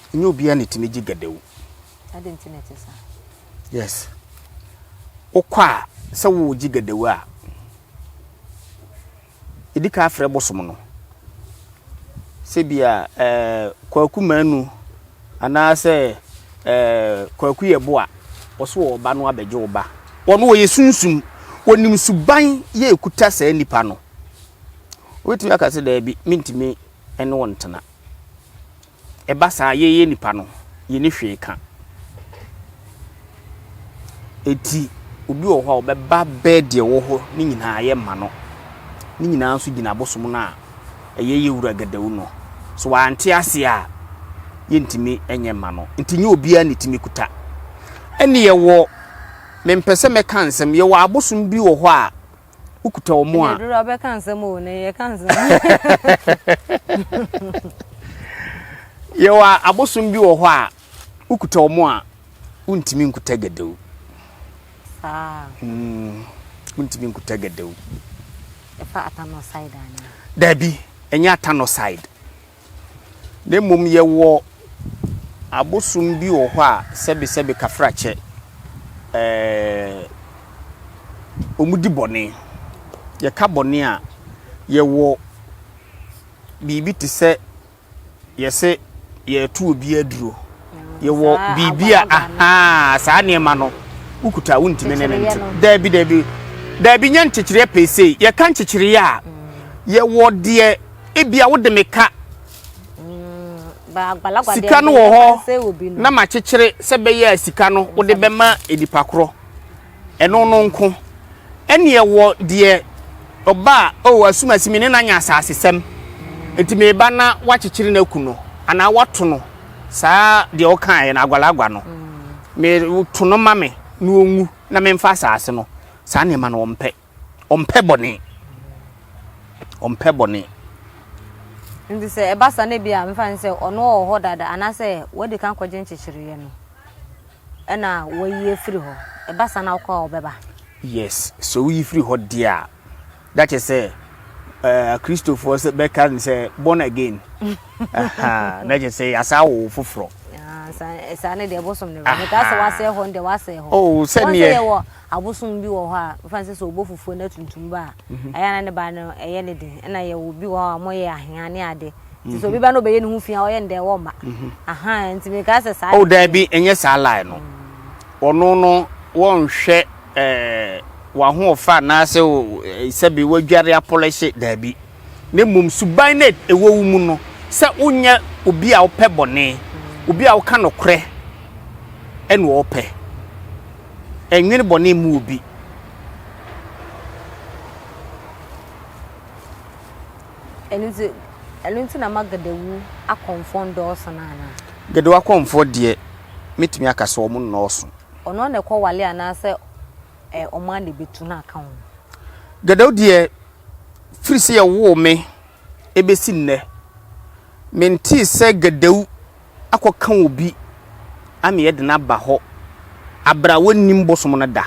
Ɛnyɛ obiara na ɛtumi gye gadawu. Adɛn nti na ɛte saa? Yes. Wokɔ a sɛ wogye gadawu a, ɛdi ka afrɛ bosom no. Sɛ bi a eh, kwaku manu anaasɛ eh, kwaku yɛ boa wɔso wɔ ɔba no abɛgye wo ba. Wɔn wɔyɛ sunsum, wɔnim suban yɛ ɛkuta saa nipa no. Wobɛtumi aka sɛ daabi, mentumi ne wɔn tena. ɛba saa a, yɛn yɛn nnipa no, yɛnni hwee ka. Enti obi wɔ hɔ a ɔbɛba bɛɛ deɛ ɛwɔ hɔ ne nyinaa yɛ ma no. Ne nyinaa nso gyina abosom no a ɛyɛ yɛ wura gadawu no. So wante aseɛ a, yɛntumi nyɛ mma no. Nti nyɛ obiara ne tumi kuta. Ɛne yɛwɔ, mempɛ sɛ mɛka nsɛm, yɛwɔ abosom bi wɔ hɔ a, wokuta wɔn a. ɛduru abɛka nsɛm o na yɛka nsɛm. yɛwɔ abosom bi wɔ hɔ a wokuta wɔn a wontumi nkuta gɛdɛw. saa. Hmm, wontumi nkuta gɛdɛw. ɛfa atanɔ side anaa. dabi ɛnyɛ atanɔ side. na mmom yɛwɔ abosom bi wɔ hɔ a sɛbesɛbe kafrakyɛ, ɛɛ, wɔdi bɔne. Yɛka bɔne a, yɛwɔ biribi te sɛ yɛse yɛreto obi aduro. Yɛwɔ saa biribi a, agbanagba no. ahaa, saa nneɛma no, wokuta a wontumi ne no Nkyekyereɛ nte. no. Daabi, daabi, daabi, nyɛ nkyekyereɛ pee sei. Yɛka nkyekyereɛ a, yɛwɔ deɛ Ebia wode me ka sika no wɔ hɔ na makyekyere sɛ bɛyɛ a sika no wode bɛma nipa korɔ ɛno no nko ɛneɛ wɔ deɛ ɔba a ɔwɔ oh, asumasi me ne no anya asasesɛm nti meba na wakyekyere no aku no anaa wato no saa deɛ ɔkaeɛ no agwalagwa no mm. meto no ma me na ɔnwu na memfa asase no saa nneɛma no wɔmpɛ ɔmpɛ bɔne. Ɔmpɛ bɔne. Nti sɛ ɛba sa na bi a mefa ne sɛ ɔno ɔwɔ hɔ dada anaasɛ wadi kan kɔgye nkyekyereeɛ no ɛna wayi afiri hɔ ɛba sa na wokɔ a ɔbɛba yes sɛ woyi firi hɔ deɛ a da kyɛ sɛ eh, kristofoɔ sɛ bɛka ne sɛ born again na kyɛ sɛ yɛasa wo foforɔ ah, saa ne deɛ bosom ne wɔ metaa sɛ wasɛe hɔ no deɛ wasɛe hɔ oh, sɛneɛ Abosom bi wɔ hɔ a mfa no sɛ sɛ ɔbɔ fufuo na tuntum ba a, ɛyɛ a na ne ba no ɛyɛ ne den. Ɛna yɛwɔ obi wɔ hɔ a wɔyɛ ahea ne ade. Nti sɛ obi ba na ɔbɛyɛ ne ho fi a ɔyɛ no dɛn wɔmma. Aha nti mekaa sɛ saa. Oh daabi ɛnyɛ saa line no. Ɔno no wɔnhwɛ ɛɛ w'ahoɔfɛ anaasɛ sɛbe wadware apɔlɛhye daabi. na mmom suban no a ɛwɔ wo mu no sɛ wonyɛ obi a wopɛ bɔne, obi a woka nokorɛ ɛna wɔpɛ. Ɛnwene bɔne mu obi. ɛno nti ɛno nti na ma gadawu akɔmfoɔ ndɔɔso no anaa. gadawu akɔmfoɔ deɛ mɛtumi aka sɛ wɔn nnɔɔso. ɔno na ɛkɔ wale anaasɛ ɔmo ana bɛtu no aka ho. gadawu deɛ Firi sɛ yɛwoo me bɛsi nnɛ, mentee sɛ Gadawu akɔka obi ameɛ de no aba hɔ aberɛ a wɔnnim bosom no da.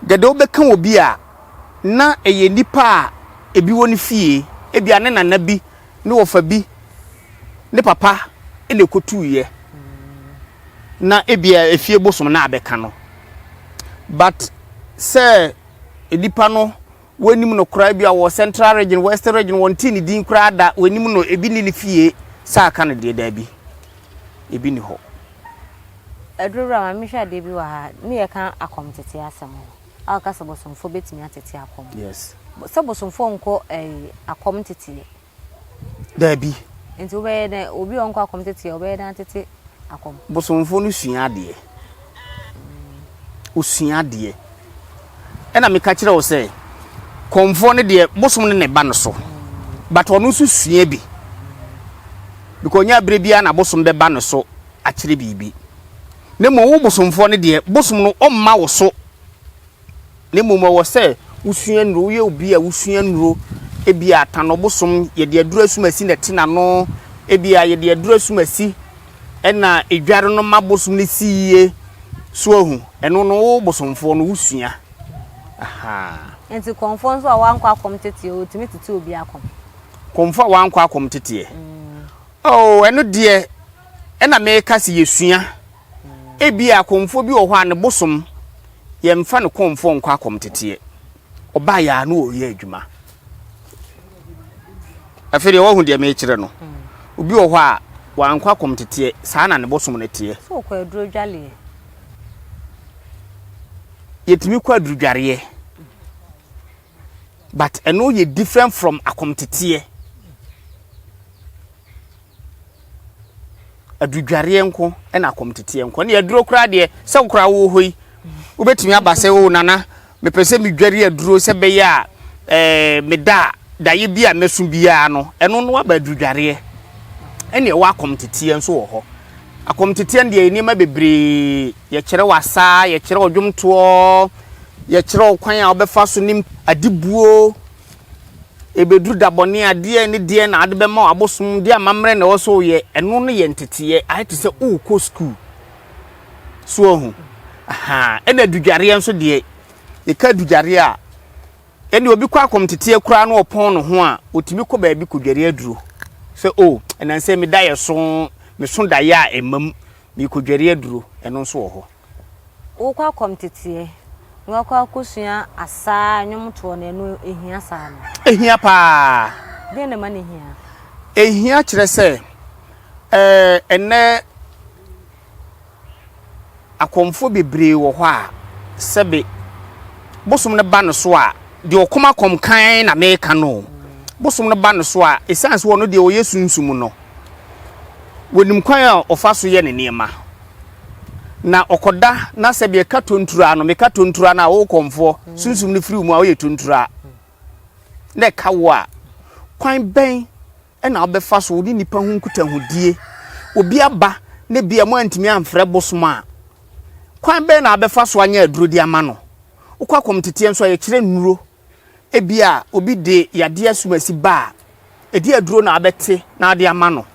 Gadawu bɛka obi a, na ɛyɛ nnipa a ebi wɔ ne fie, ebia ne nana bi, ne wɔfa bi, ne papa na ɛkɔtuiɛ, na ebia efie bosom na abɛka no. But sɛ Nnipa no wɔnnim no koraa bi a wɔ central region, western region wɔntee ne din koraa da, wɔnnim no, ebi nni ne fie, sɛ aka no deɛ daabi, ebi nni hɔ. Aduro wura ma mehwɛ adeɛ bi wɔ ha ne yɛka akɔm tete asɛm no a woka sɛ bosomfoɔ bɛtumi atete akɔm yes sɛ bosomfoɔ nkɔ ɛyi akɔm teteɛ. Dabi. Nti wobɛyɛ dɛn, obi a ɔnkɔ akɔm teteɛ, wobɛyɛ dɛn atete akɔm? Bosomfoɔ no sua adeɛ. Ɔsua adeɛ. Ɛna meka kyerɛ wo sɛ, kɔmfoɔ no deɛ, bosom no na ɛba no so. But ɔno nso sua bi. Because ɔnyɛ aberɛ biara na bosom bɛba no so akyerɛ biribi. Na mmom wo bosomfoɔ no deɛ, bosom no ɔmma wo so. na mmom ɛwɔ sɛ wosua nnuro, woyɛ obi a wosua nnuro, ebi a tan ɔbosom, yɛde aduro asumasi na ɛte n'ano, ebi a yɛde aduro asumasi na edware no ma bosom no si yie, so ahu, ɛno no wo bosomfoɔ no wosua. Aha. Nti kɔmfoɔ nso a wankɔ akɔm teteɛ, ɔtumi tete obi akɔm? Kɔmfoɔ a wankɔ akɔm teteɛ? Mm. Oh, ɛno deɛ, ɛna meka sɛ yɛsua. Ebia kɔmfoɔ bi wɔ hɔ a ne bosom yɛmfa no kɔmfoɔ nkɔ akɔmteteɛ. Ɔbaeɛ ara na ɔreyɛ adwuma. Afei deɛ woahu deɛ merekyerɛ no. Obi wɔ hɔ a wankɔ akɔmteteɛ, saa na ne bosom no teɛ. Sɛ ɔkɔ adurudwareɛ. Yɛtumi kɔ adurudwareɛ but ɛno yɛ different from akɔmteteɛ. Adudwareɛ nko na akɔmteteɛ nko. Ɛne aduro koraa deɛ sɛ wo koraa wɔ hɔ yi wobɛtumi aba sɛ oh nana mepɛ sɛ medware aduro sɛ bɛyɛ a eh, meda a daeɛ bi a mɛso biara no ɛno no aba adudwareɛ. Ɛne ɛwɔ akɔmteteɛ nso wɔ hɔ. Akɔmteteɛ no deɛ yɛ nneɛma bebree yɛkyerɛ wo asaa, yɛkyerɛ wo dwomtoɔ, yɛkyerɛ wo kwan a wobɛfa so ne adibuo. ɛbɛduru da bɔne a deɛn ne deɛn na ade bɛma abosom de amammerɛ na ɛwɔ sɛ woyɛ ɛno no yɛ nteteɛ ayɛ te sɛ wokɔ sukuu so ahu ɛna adudwareɛ nso deɛ yɛka adudwareɛ a ɛne obi kɔ akɔm teteɛ koraa na ɔpɔn ne ho a ɔtumi kɔ baabi kɔdware aduro sɛ o oh, ɛnansɛ meda yɛ so meso daeɛ a ɛmam mekɔdware aduro ɛno nso wɔ hɔ wokɔ akɔ mteteɛ na wakɔ akɔsua asaa a nnwom toɔ no ɛno ɛhia saa no? Ɛhia paa. Deɛ na ɛma no hia? Ɛhia kyerɛ sɛ ɛnɛ akɔmfoɔ bebree wɔ hɔ a sɛbe bosom no ba no so a deɛ ɔkɔm akɔm kan na meka no bosom no ba no so a ɛsiane sɛ ɔno deɛ ɔyɛ sunsum no wɔnim kwan a ɔfa so yɛ ne nneɛma Na ɔkɔda na sɛ deɛ ɛka tonturaa no meka tonturaa no a wo kɔmfoɔ sunsum no firi wo mu a woyɛ tonturaa na ɛka wo a kwan bɛn na wobɛfa so wo ne nnipa ho nkutahodie obi aba na bia mo antumi amfrɛ bosom a kwan bɛn na wobɛfa so anyɛ aduro de ama no wokɔ akɔmteteɛ nso a yɛkyerɛ nnuro Ebia obi de yadeɛ asumasi ba a, ɛdeɛn aduro na wobɛte na wode ama no?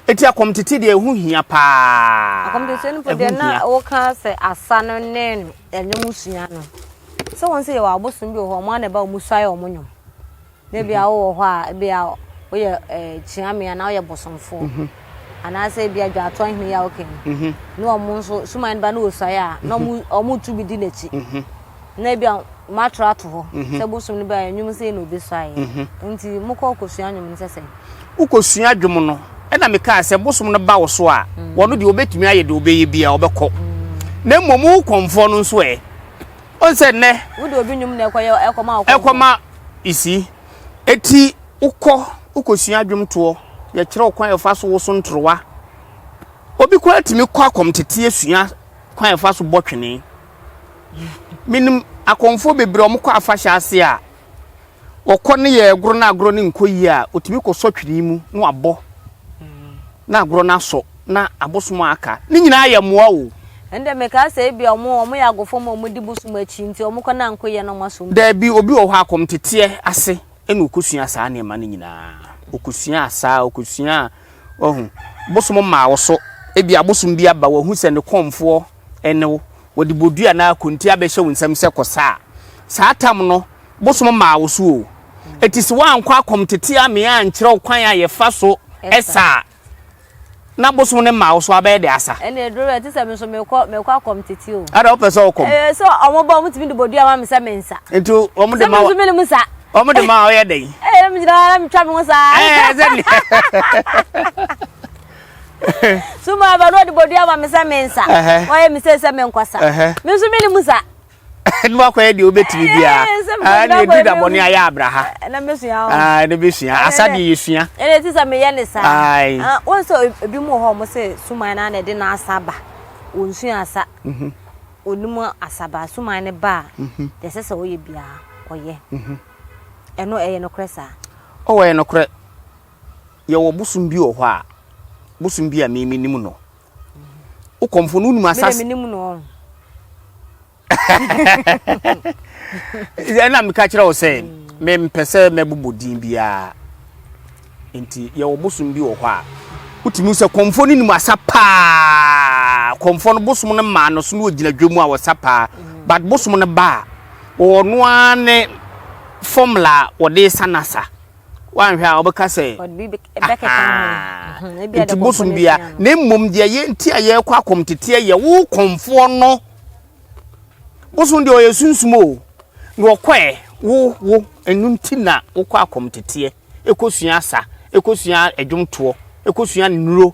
Enti akɔmtete deɛ ɛho hia paa. Akɔmtete no mpo deɛ na woka sɛ asa no ne ɛnwom sua no. Sɛ wɔn sɛ yɛwɔ abosom bi wɔ hɔ, wɔn ara na ɛba wɔn suae wɔn nnwom. Na ebia wowɔ hɔ a, ebia woyɛ kyiamee anaa woyɛ bosomfo, anaasɛ ebia dwaatɔ ahene yi a woka yi, na wɔn nso suman no ba na wɔsuae a, na wɔtu bi di n'akyi. Na ebia moatwerɛ ato hɔ sɛ bosom no bɛyɛ nnwom sei na obesuaeɛ. Nti mokɔ kɔsua nnwom no sɛ sɛn? Wokɔsua dwom no, ɛna mekaa sɛ bosom no ba wo so a, wɔn deɛ wɔbɛtumi ayɛ deɛ wɔbɛyɛ biara, wɔbɛkɔ. Na mmom wo kɔmfoɔ no nso ɛ? Ɔn sɛ nnɛ. Wode obi nwom na ɛkɔyɛ ɛkɔma ɔkɔnkɔ. Ɛkɔma isi. Eti wokɔ wokɔsua dwomtoɔ, yɛkyerɛ wo kwan a yɛfa so woso ntorowa. Obi koraa tumi kɔ akɔmteteɛ sua kwan a yɛfa so bɔ twene. Menim akɔmfoɔ bebree a wɔkɔ afahyɛ ase a. ɔkɔ ne yɛ agorɔ na agorɔ no nkɔ yie a, ɔtumi kɔsɔ twene mu na wabɔ na agorɔ no asɔ na abosom a aka. Ne nyinaa yɛ mmoa o. Ɛnde mekaa sɛ ebia wɔn wɔn yɛ agofo ma wɔn di bosom akyi nti wɔn kɔ na nko yɛ na wɔn asom bi. Daabi obi wɔ hɔ a kɔmteteɛ ase ɛna ɔkɔsuaa saa nneɛma no nyinaa ɔkɔsuaa saa ɔkɔsuaa wahu bosom maa wo so ebia abosom bi aba wahu sɛ ne kɔmfoɔ ɛne wo Wɔde bodua anaa konti abɛhyɛ wo nsam sɛ kɔ sa a, saa tam no bosom mmaa wo so o. Enti se woankɔ akɔm tete amee ankyerɛ wo kwan a yɛfa so sa a, na bosom no mmaa wo so, abɛyɛ dɛ asa. Ɛnneɛ duru bɛɛ te sɛ me nso mekɔ, mekɔ akɔm tete o. Ada wopɛ sɛ ɔkɔm? Ɛɛ sɛ wɔn ba wɔn tumi de bodua ma me sɛ me nsa. Nti wɔn de ma wa. Sɛ me nso me ne mu sa. Wɔn de ma wa ɔyɛ dɛn? Ɛɛ me gyina hɔ na metwa me ho saa. Ɛɛ sɛ ne. suma aba na ɔde bodua ma me sɛ mensa ɔyɛ me sɛ sɛ menkɔsa me nso mene mu sa ɛno akɔyɛ deɛ wobɛtumi biara ɛne ɛduru da bɔne ayɛ abraha ɛne bɛsua asa deɛ yɛsua ɛne ɛti sɛ meyɛ ne saa wɔn sɛ ebi mu hɔ mo sɛ suman no ana ɛde no asa ba ɔnsua asa ɔnim asa ba suman no ba a deɛ ɛsɛ sɛ ɔyɛ biara ɔyɛ ɛno ɛyɛ nokorɛ saa ɔwɔ yɛ nokorɛ Yɛwɔ bosom bi wɔ hɔ a, bosom bi a me menim no. Wo kɔmfo no wonim asase. Mede menim no ɔn. Ɛna meka kyerɛ wo sɛ mempɛ sɛ mɛbobɔ din biara. Nti yɛwɔ bosom bi wɔ hɔ a wotumi sɛ kɔmfo no nim asa paa. Kɔmfo no bosom no maa no so no ogyina dwa mu a wɔsa paa. But bosom no ba a wɔwɔ no ara ne formula wɔde sa no asa. woanhwɛ a wobɛka sɛ nti bosom bia na mmom deɛ yɛ nti a yɛrekɔ akɔm teteɛ yɛ wo kɔmfoɔ no bosom deɛ ɔyɛ sunsum o na ɔkɔɛ wo wo ɛno nti na wokɔ akɔm teteɛ ɛkɔsua asa ɛkɔsua adwomtoɔ ɛkɔsua nnuro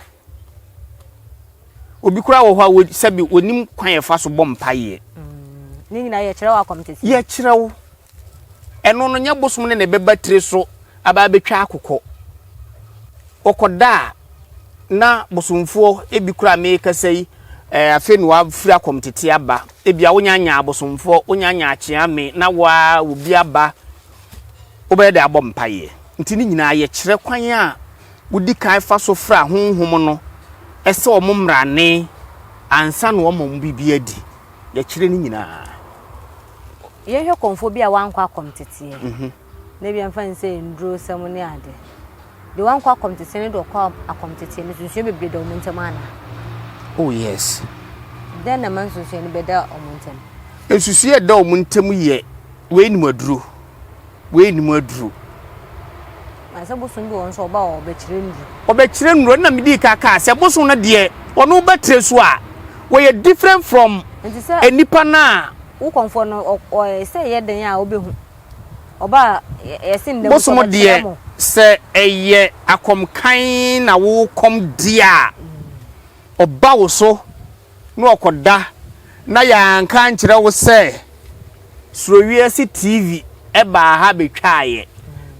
obi koraa wɔ hɔ a sɛbi onim kwan ɛfa so bɔ mpaeɛ mm. ne nyinaa yɛkyerɛ wo akɔm teteɛ yɛkyerɛ wo Ɛno no, nyɛ bosom no na ɛbɛba tire so aba abɛtwa akokɔ. Wɔkɔda a, na bosomfoɔ ebi koraa a merekasa yi, eh, afei na wɔafiri akɔm tete aba. Ebia wonyanyaa abosomfoɔ, wonyanyaa akyeame, na wo ara obi aba, wobɛyɛ dɛ abɔ mpaeɛ. Nti ne nyinaa yɛ kyerɛ kwan a wodi kan fa so fra honhom no sɛ wɔn mmrane ansa na wɔama wɔn biribi adi. Yɛkyerɛ ne nyinaa. Yɛnhwɛ kɔmfoɔ bi a wankɔ akɔm teteɛ. Mhm. Na ebi mfa ne sɛ nnurosɛm ne ade. Deɛ wankɔ akɔm teteɛ ne deɛ ɔkɔ akɔm teteɛ no nsusuɛ bebree da wɔn ntam ana? Oh yes. Dɛn na ɛma nsusuɛ no bɛda wɔn ntam? Nsusuɛ da wɔn ntam yɛ wei nim aduro. Wei nnim aduro. Na sɛ bosom bi wɔ nso ɔba a ɔbɛkyerɛ nnuro. Ɔbɛkyerɛ nnuro na medi ka kaa sɛ bosom no deɛ ɔno bɛtire so a wɔyɛ different from nnipa no a. Wo kɔnfoɔ no ɔyɛ sɛ ɛyɛ den a ɔbɛhu ɔba a yɛse nnam sɛ ɔbɛkyerɛ mo. Sɛ ɛyɛ akɔmkan na wo kɔm di a ɔba wo so. na ɔkɔda na yɛanka ankyerɛ wo sɛ Surowiase TV baa ha bɛtwaaeɛ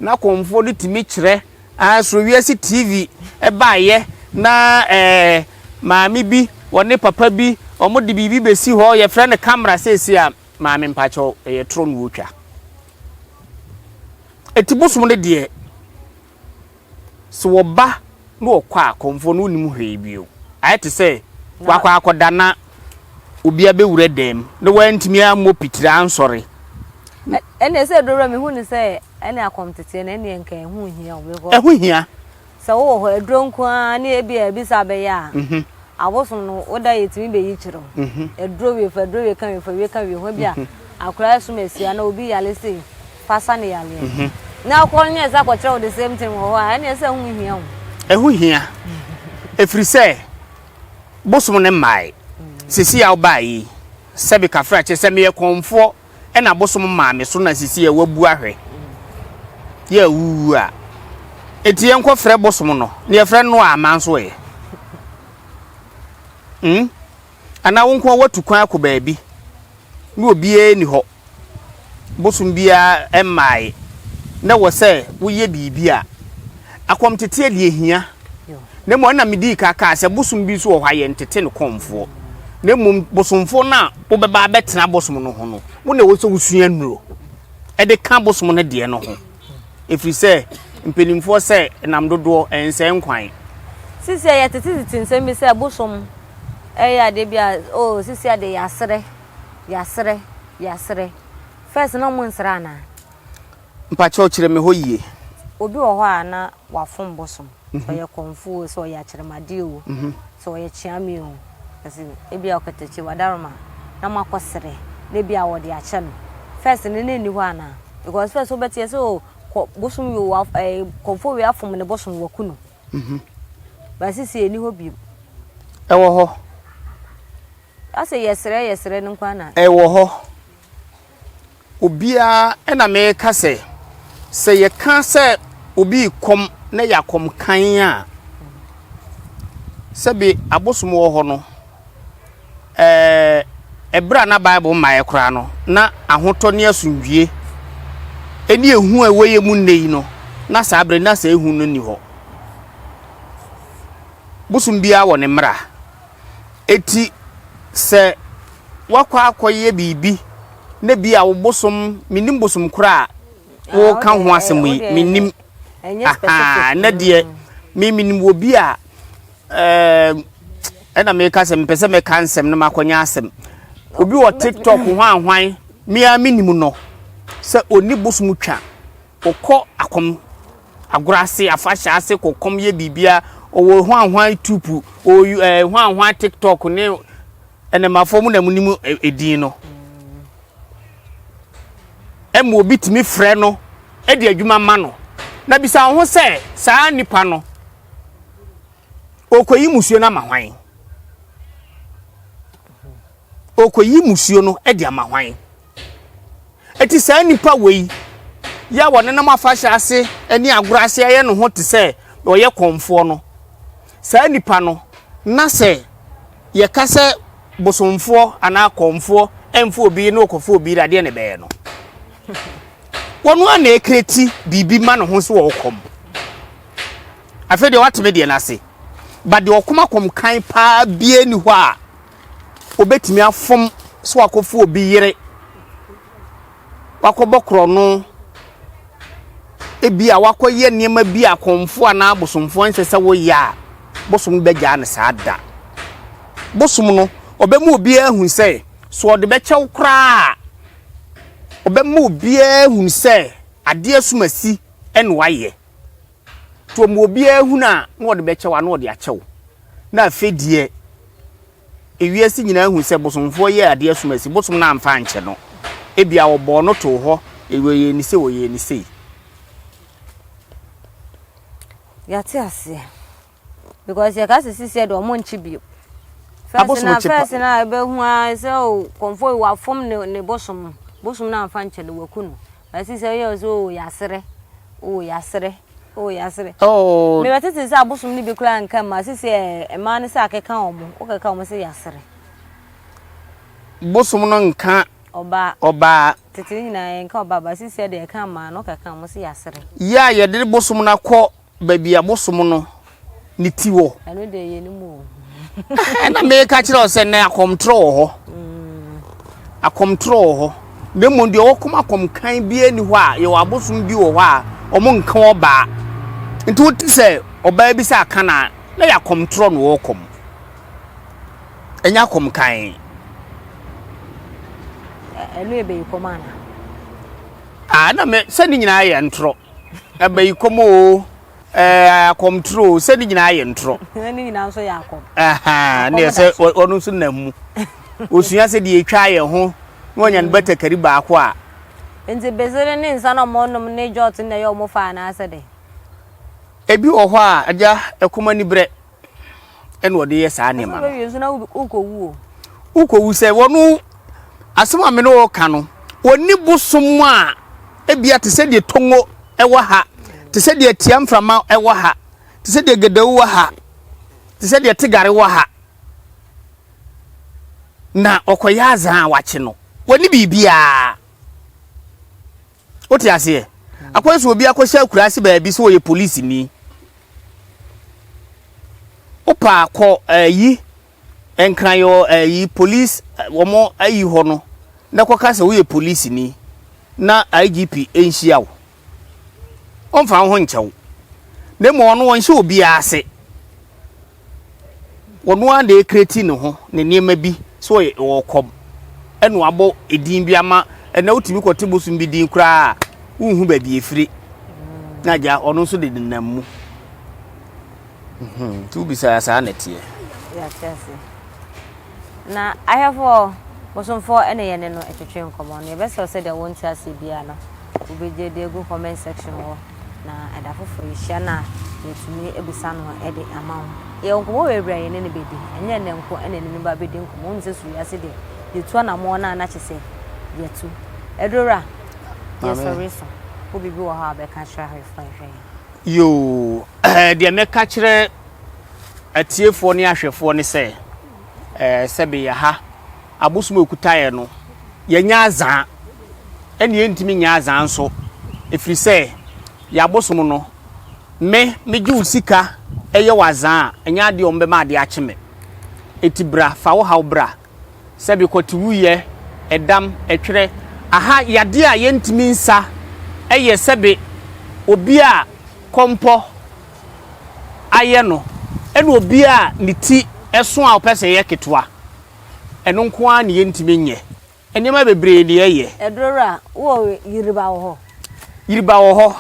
na kɔmfoɔ no tumi kyerɛ ah Surowiase TV baeɛ na eh, maame bi wɔne papa bi wɔn de biribi bɛsi hɔ yɛfrɛ no kamera seesei a maame mpakyɛw ɛyɛ torɔ na wɔtwa ɛti bosom no deɛ So wɔba na wɔkɔ a kɔmfoɔ no wonnim hwee bio. Ayɛ te sɛ wakɔ akɔda na obi abɛwura dan mu na wantumi ammɔ pitiri ansɔre. Ɛnneɛ sɛ aduro wura mehu ne sɛ ɛne akɔmteteɛ no ɛnneɛ nka ɛho hia wo because. Ɛho hia. Sɛ wowɔ hɔ aduro nko ara ne ebi a ebi sa bɛyɛ a. Mhm. Abosom no woda yɛtumi bɛyi kyerɛ wo. Mhm. Aduro wie fa aduro wie ka wie fa wie ka wie ho ebi a mhm. akwadaa sum asia na obi yare sei. fa sa ne yareɛ mhm. na wokɔ no ne ɛsɛ akɔkyerɛ wo the same thing wɔ hɔ a ɛne ɛsɛ ɛho hia wo ɛho hia ɛfiri sɛ bosom no mmae sisi a wobaa yi sɛ bikafra kyɛ sɛ meyɛ kɔmfoɔ ɛna bosom maa me so na sisi a wabu ahwɛ yɛ awuwu a ɛti yɛnkɔfrɛ bosom no ne yɛfrɛ no a ama nso ɛyɛ hmm? anaa wo nkoa woatu kwan akɔ baabi ne obiara ni hɔ bosom biara mmae. Na ɛwɔ sɛ woyɛ biribi a akɔmteteɛ deɛ hia. Na mmom ɛna medii ka kaa sɛ bosom bi nso wɔ hɔ a yɛntete no kɔmfoɔ. Na mmom bosomfoɔ no a wobɛba abɛtena bosom no ho no, wo na ɛwɔ sɛ wosua nnuro de ka bosom no deɛ no ho. Ɛfiri sɛ mpanimfoɔ sɛ nam dodoɔ ɛnsɛe nkwan. Sisi a yɛtetetete nsɛm bi sɛ bosom yɛ adeɛ bi a, oh sisi a deɛ yɛaserɛ. Yasrɛ yasrɛ first na ɔmo nsrɛ anaa. Mpakyɛw kyerɛ me hɔ yie. Obi wɔ hɔ a na wafom bosom sɛ ɔyɛ kɔmfo o sɛ ɔyɛ akyerɛmade o sɛ ɔyɛ kyeame o ɛse ebi a ɔkatakyi wadaroma na mo akɔ srɛ na ebi a wɔde akyɛ no first no na enni hɔ anaa because first wo bɛteɛ sɛ o kɔ bosom wei wa ɛɛ kɔmfo wei afom ne bosom waku no but sisi enni hɔ bio. Ɛwɔ hɔ. Ɔse yɛsrɛ yɛsrɛ no nko ara na. Ɛwɔ hɔ. Obiara ɛna meka sɛ, sɛ yɛka sɛ obi rekɔm na ɛyɛ akɔm kann a, sɛbe abosom wɔ hɔ no, ɛɛ, ɛberɛ a na Bible mmaeɛ koraa no, na ahotɔ ne asomdwie ɛne ehu a ɛwɔ yɛ mu nnɛ yi no, na saa berɛ na saa ehu no nni hɔ. Bosom biara wɔ ne mmara. Enti sɛ woakɔ akɔyɛ biribi na bi a wo bosom, mennim bosom koro a woreka ho asɛm yi, mennim, aha, na deɛ me menim wɔ bi a, ɛɛ, ɛna meka sɛ mepɛ sɛ mɛka nsɛm na makɔnya asɛm. Obi wɔ TikTok hwanhwan, me ara mennim no, sɛ ɔni bosom twa. Wokɔ akɔm, agorɔ ase, afahyɛ ase kɔ kɔm yɛ biribia, ɔwɔ hwanhwan tupu, ɔwɔ ɛɛ hwanhwan tiktok ne ɛnɛmafoɔ mu na mu nim edin no. Ɛmu obi tumi frɛ no ɛde adwuma ma no. Na bisa wo ho sɛ saa nipa no ɔkɔ yi musuo no ama hwan? Ɔkɔ yi musuo no ɛde ama hwan? Enti saa nnipa wei yi a wɔnenam afahyɛ ase ne agorɔ ase yɛ ne ho te sɛ wɔyɛ kɔmfoɔ no, saa nnipa no, na sɛ yɛka sɛ bosomfoɔ anaa kɔmfoɔ mfa obi yere na ɔkɔfa obi yere adeɛ na ɛbɛyɛ no. Wɔn ara na ɛkreti biribi ma ne ho so wɔ ɔkɔm. Afei deɛ wɔateme deɛ no ase. Ba deɛ ɔkɔm akɔm kan paa bie ni hɔ a wobɛtumi afom so akɔfo obi yere wakɔbɔ korɔno ebi a wakɔyɛ nneɛma bi a kɔnfo anaa abosomfoɔ nsɛ sɛ woyɛ a bosom bɛgyaa no saa da bosom no ɔbɛma obiara hu sɛ so ɔde bɛkyɛw koraa ɔbɛma obiara hu sɛ adeɛ asumasi ɛna wayɛ Toɔ ma obiara hunu a na ɔde bɛkyɛ wo a na ɔde akyɛ wo na afei deɛ ewiase nyinaa hu sɛ bosomfoɔ yɛɛ adeɛ som asi bosom no amfa ankyɛ no ebia ɔbɔɔ no too hɔ ɔyɛɛ ne sei ɔyɛɛ ne sei. Yɛate aseɛ. Because yɛka sɛ sisiɛ deɛ ɔmo nkye bio. Fɛs na fɛs na ɛbɛhu ara sɛ o kɔnfɔ yi wafom ne ne bosom bosom na nfa nkyɛle waku no. Bɛsi sɛ yɛ sɛ o yasere o yasere o yasere. Oh. Mebɛ tete sɛ abosom ne bi kura nka mma sisi ɛmaa ne sɛ akeka ɔmo wokeka ɔmo sɛ yasere. Bosom no nka ɔbaa ɔbaa. Tete nyinaa nka ɔbaa ba sisi ɛde ɛka mmaa no keka ɔmo sɛ yasere. Yɛ a yɛde bosom no akɔ Baabi a mosom no ne ti wɔ. Ɛno deɛ yɛnim o. Ɛna meka kyerɛ wo sɛ nnɛ akɔmtorɔ wɔ hɔ. Akɔmtorɔ wɔ hɔ. Na mmom deɛ ɔwɔ kɔm akɔm kan biara ni hɔ a yɛwɔ abosom bi wɔ hɔ a wɔn nka ɔbaa. Nti wote sɛ ɔbaa bi sɛ aka na na yɛ akɔmtorɔ na ɔwɔ kɔm. Ɛnyɛ akɔm kan. Ɛno yɛ bɛyi kɔm ana? Ah, na me sɛ ne nyinaa yɛ ntorɔ. abayikɔm o, ɛɛ akɔmtoro o, sɛ ne nyinaa yɛ ntorɔ. ne nyinaa nso yɛ akɔm. ne yɛ sɛ ɔno nso nam mu. Osua sɛ deɛ ɛtwa yɛn ho na wanya no batakari baako a. Nti besere ne nsa na wɔnom ne jɔt na ɛyɛ wɔn faa anaasɛ dɛn? Ebi wɔ hɔ a agya ɛkɔm ani berɛ. ɛna ɔde yɛ saa nneɛma no. ɛsɛ ɔbɛwie nso na wokɔwu o. wokɔwu sɛ wɔn asɛm a mene wɔka no wɔni bosom a ebia te sɛ deɛ tongo ɛwɔ ha te sɛ deɛ tia mframa ɛwɔ ha te sɛ deɛ gedawu wɔ ha te sɛ deɛ tegare wɔ ha na ɔkɔyɛ azan a wakye no wɔni biribiara. Wote aseɛ? Akɔyɛ sɛ obi akɔhyɛ akuraase baabi sɛ ɔyɛ polisini. Wopa a kɔ ayi Nkrayɔ ayi police wɔn ayi hɔ no na kɔka sɛ woyɛ polisini na IGP nhyia wo. Ɔmfa wo ho nkyɛ wo. Na mmom ɔno ɔnhyɛ obiara ase. ɔno ara na ɛkreti ne ho ne nneɛma bi sɛ ɔyɛ ɔwɔ kɔm ɛna wabɔ edin bi ama ɛna wotumi kɔte bosom bi din koraa a wonhu baabi efiri na agya ɔno nso de nenam mu nti wobisa saa na ɛteɛ. Na ahwɛfoɔ, bosomfoɔ na yɛne no twetwee nkɔmmɔ no. Yɛbɛsrɛ wo sɛdeɛ wonte aseɛ biara no wobɛgye de agu comment section hɔ na ɛda foforɔ yɛhyia no a yɛatumi abisa no de ama wo. Yɛwɔ nkɔmmɔ wei berɛ a yɛne no bɛdi. Ɛnyɛ ɛnnɛ nko na yɛne no ba bɛdi nkɔmmɔ. Wonim sɛ Sua Wiase deɛ yɛtu anammɔn no a na kyerɛ sɛ yɛatu. Adurowura, yɛsɔre so. Wowɔ biribi wɔ hɔ a wobɛka akyerɛ ahwɛfoɔ a yɛhwɛ yɛn? Yoo, deɛ mɛka akyerɛ. atiefoɔ ne ahwɛfoɔ ne sɛ, ɛɛ, sɛbe yɛ ha, abosom a ɔkuta yɛ no, yɛnyɛ azaa, ɛne yɛntumi nyɛ azaa nso, ɛfiri sɛ yɛ abosom no, me, megye wo sika yɛ wo azaa a, ɛnyɛ adeɛ a wɔbɛma adeɛ akye me. Enti bra, fa wo haw bra. sɛbe kɔtewuyɛ, ɛdam, ɛtwerɛ, aha yadeɛ a yɛntumi nsa yɛ sɛbe obi a kɔmpɔ ayɛ no ɛne obi a ne ti so a ɔpɛ sɛ ɛyɛ ketewa. Ɛno nko ara na yɛntumi nyɛ. Nneɛma bebree na yɛyɛ. Aduro wura, wo wɔ Yiriba wɔ hɔ? Yiriba wɔ hɔ.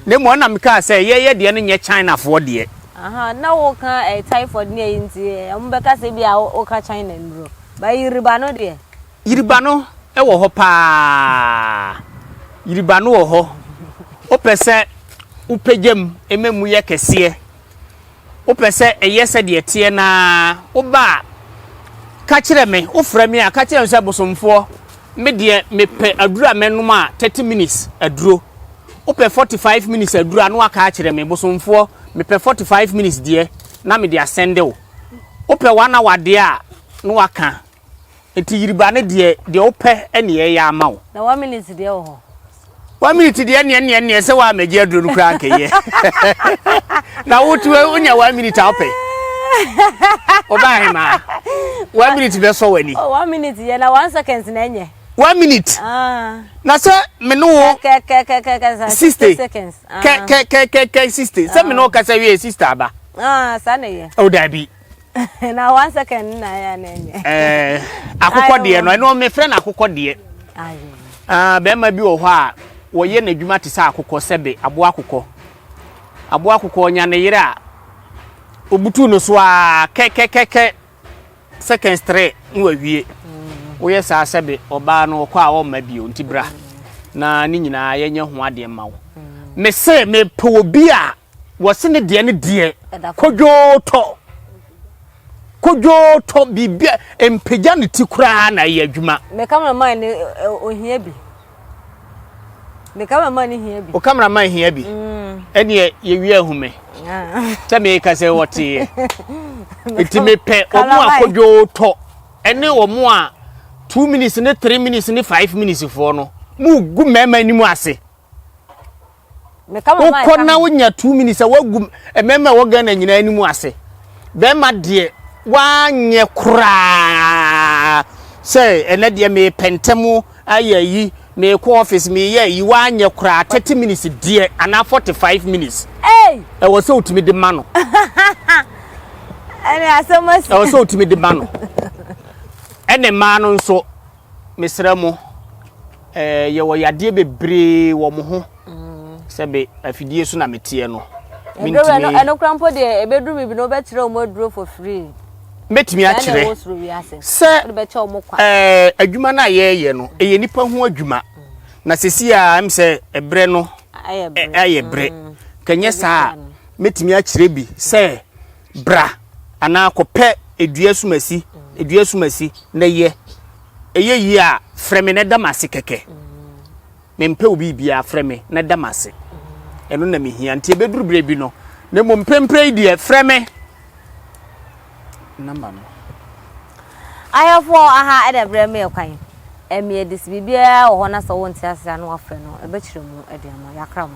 Na mmom ɛna mekaa sɛ yɛyɛ deɛ no nyɛ Chinafoɔ deɛ. Aha, na woka eh, typhoid ne ayi nti eh, ɔmo bɛka sɛ bi a woka China nnuro. Ba yiriba no deɛ. Yiriba no wɔ hɔ paa. Yiriba no wɔ hɔ. Wopɛ sɛ wopagya mu ma mu yɛ kɛseɛ. Wopɛ sɛ ɛyɛ sɛdeɛ ɛteɛ no ara, woba a, ka kyerɛ me. Wofrɛ me a, ka kyerɛ me sɛ, Bosomfoɔ, me deɛ mepɛ aduro a mɛnom a thirty minutes aduro. Wopɛ forty five minutes aduro a, na woaka akyerɛ me, Bosomfoɔ, mepɛ forty five minutes deɛ, na mede asɛnde wo. Wopɛ one hour deɛ a, na woaka. Enti yiri ba ne deɛ, deɛ wopɛ ne yɛyɛ ama wo. Na one minute deɛ wɔ hɔ. One minute deɛ neɛ neɛ neɛ sɛ waa mɛgye aduro no koraa nkɛyɛ. Na wotu wonya one minute a wopɛ. Ɔbaa he maa. One minute bɛsɔ w'ani. Oh, one minute yɛ na one second na ɛnyɛ. One minute. Ah. Na sɛ me ne wo. Kɛkɛkɛkɛkɛ sixty seconds. Kɛkɛkɛkɛkɛ ah. sixty. Sɛ me ne wo ah. kasa wie sixty aba. Ah, saa na ɛyɛ. O oh, daabi. na one second na ya na enye eh akokɔ deɛ no ɛno me frɛ no akokɔ deɛ ah bɛrima bi wɔ hɔ a wɔyɛ n'adwuma te sɛ akokɔ sɛbe aboa akokɔ aboa akokɔ ɔnya ne yere a obutu no so a kɛkɛkɛkɛ seconds three na wawie woyɛ saa sɛbe ɔbaa no ɔkɔ a ɔmma bio nti bra na ne nyinaa yɛnyɛ ho adeɛ mma wo mese mepɛ obi a Wɔse ne deɛ ne deɛ kodwootɔ kodwootɔ biribi a mpagya ne ti koraa na ɛyɛ adwuma. Me cameraman ne ohia bi. Me cameraman ne hia bi. O cameraman hia bi. Mm. Ɛneɛ yɛwie ahume. Ah. Sɛ meka sɛ wɔteeɛ. Nti mepɛ ɔmo a kodwootɔ ɛne ɔmo a two minutes ne three minutes ne five minutes foɔ no mu gu mmarima anim ase. wokɔ na wonya two minutes sɛ woagu mmarima a ɛwɔ ghana nyinaa anim ase bɛrima deɛ woanyɛ koraa sɛ ɛnɛ deɛ mepɛ ntɛm ayɛ yi mekɔ office meyɛ yi woanyɛ koraa thirty minutes deɛ anaa forty five minutes ɛwɔ sɛ wotumi de ma no ɛwɔ sɛ wotumi de ma no ɛne mmaa no nso Mesrɛ mo, eh, yɛwɔ yadeɛ bebree wɔ mo ho sɛ be afidie so na meteɛ no. Ɛdɔwɛ no, ɛno kora mpo deɛ ɛbɛduru biribi no wobɛkyerɛ wɔn aduro for free. Mɛtumi akyerɛ sɛ eh, adwuma no a yɛreyɛ no ɛyɛ nipa ho adwuma na sɛsi a m sɛ ɛberɛ no ayɛ berɛ kɛnyɛ saa a mɛtumi akyerɛ bi sɛ Bra, anaa kɔpɛ dua sumasi, dua sumasi, na yɛ. Ɛyɛ yie a, frɛ me na da m'ase kɛkɛ. Mempɛ wo biribiara, frɛ me na da m'ase. Ɛno na mehia. Nti ɛbɛduru berɛ bi no, na mmom mprempren yi deɛ, frɛ me. Namba no. Ahwɛfoɔ aha na ɛbrɛ me ɛkwan. Ɛmmeɛ de, sɛ biribiara wɔ hɔ na sɛ wonte aseɛ a na wɔafrɛ no, ɛbɛkyerɛ mu de ama wo. Yɛakra mo.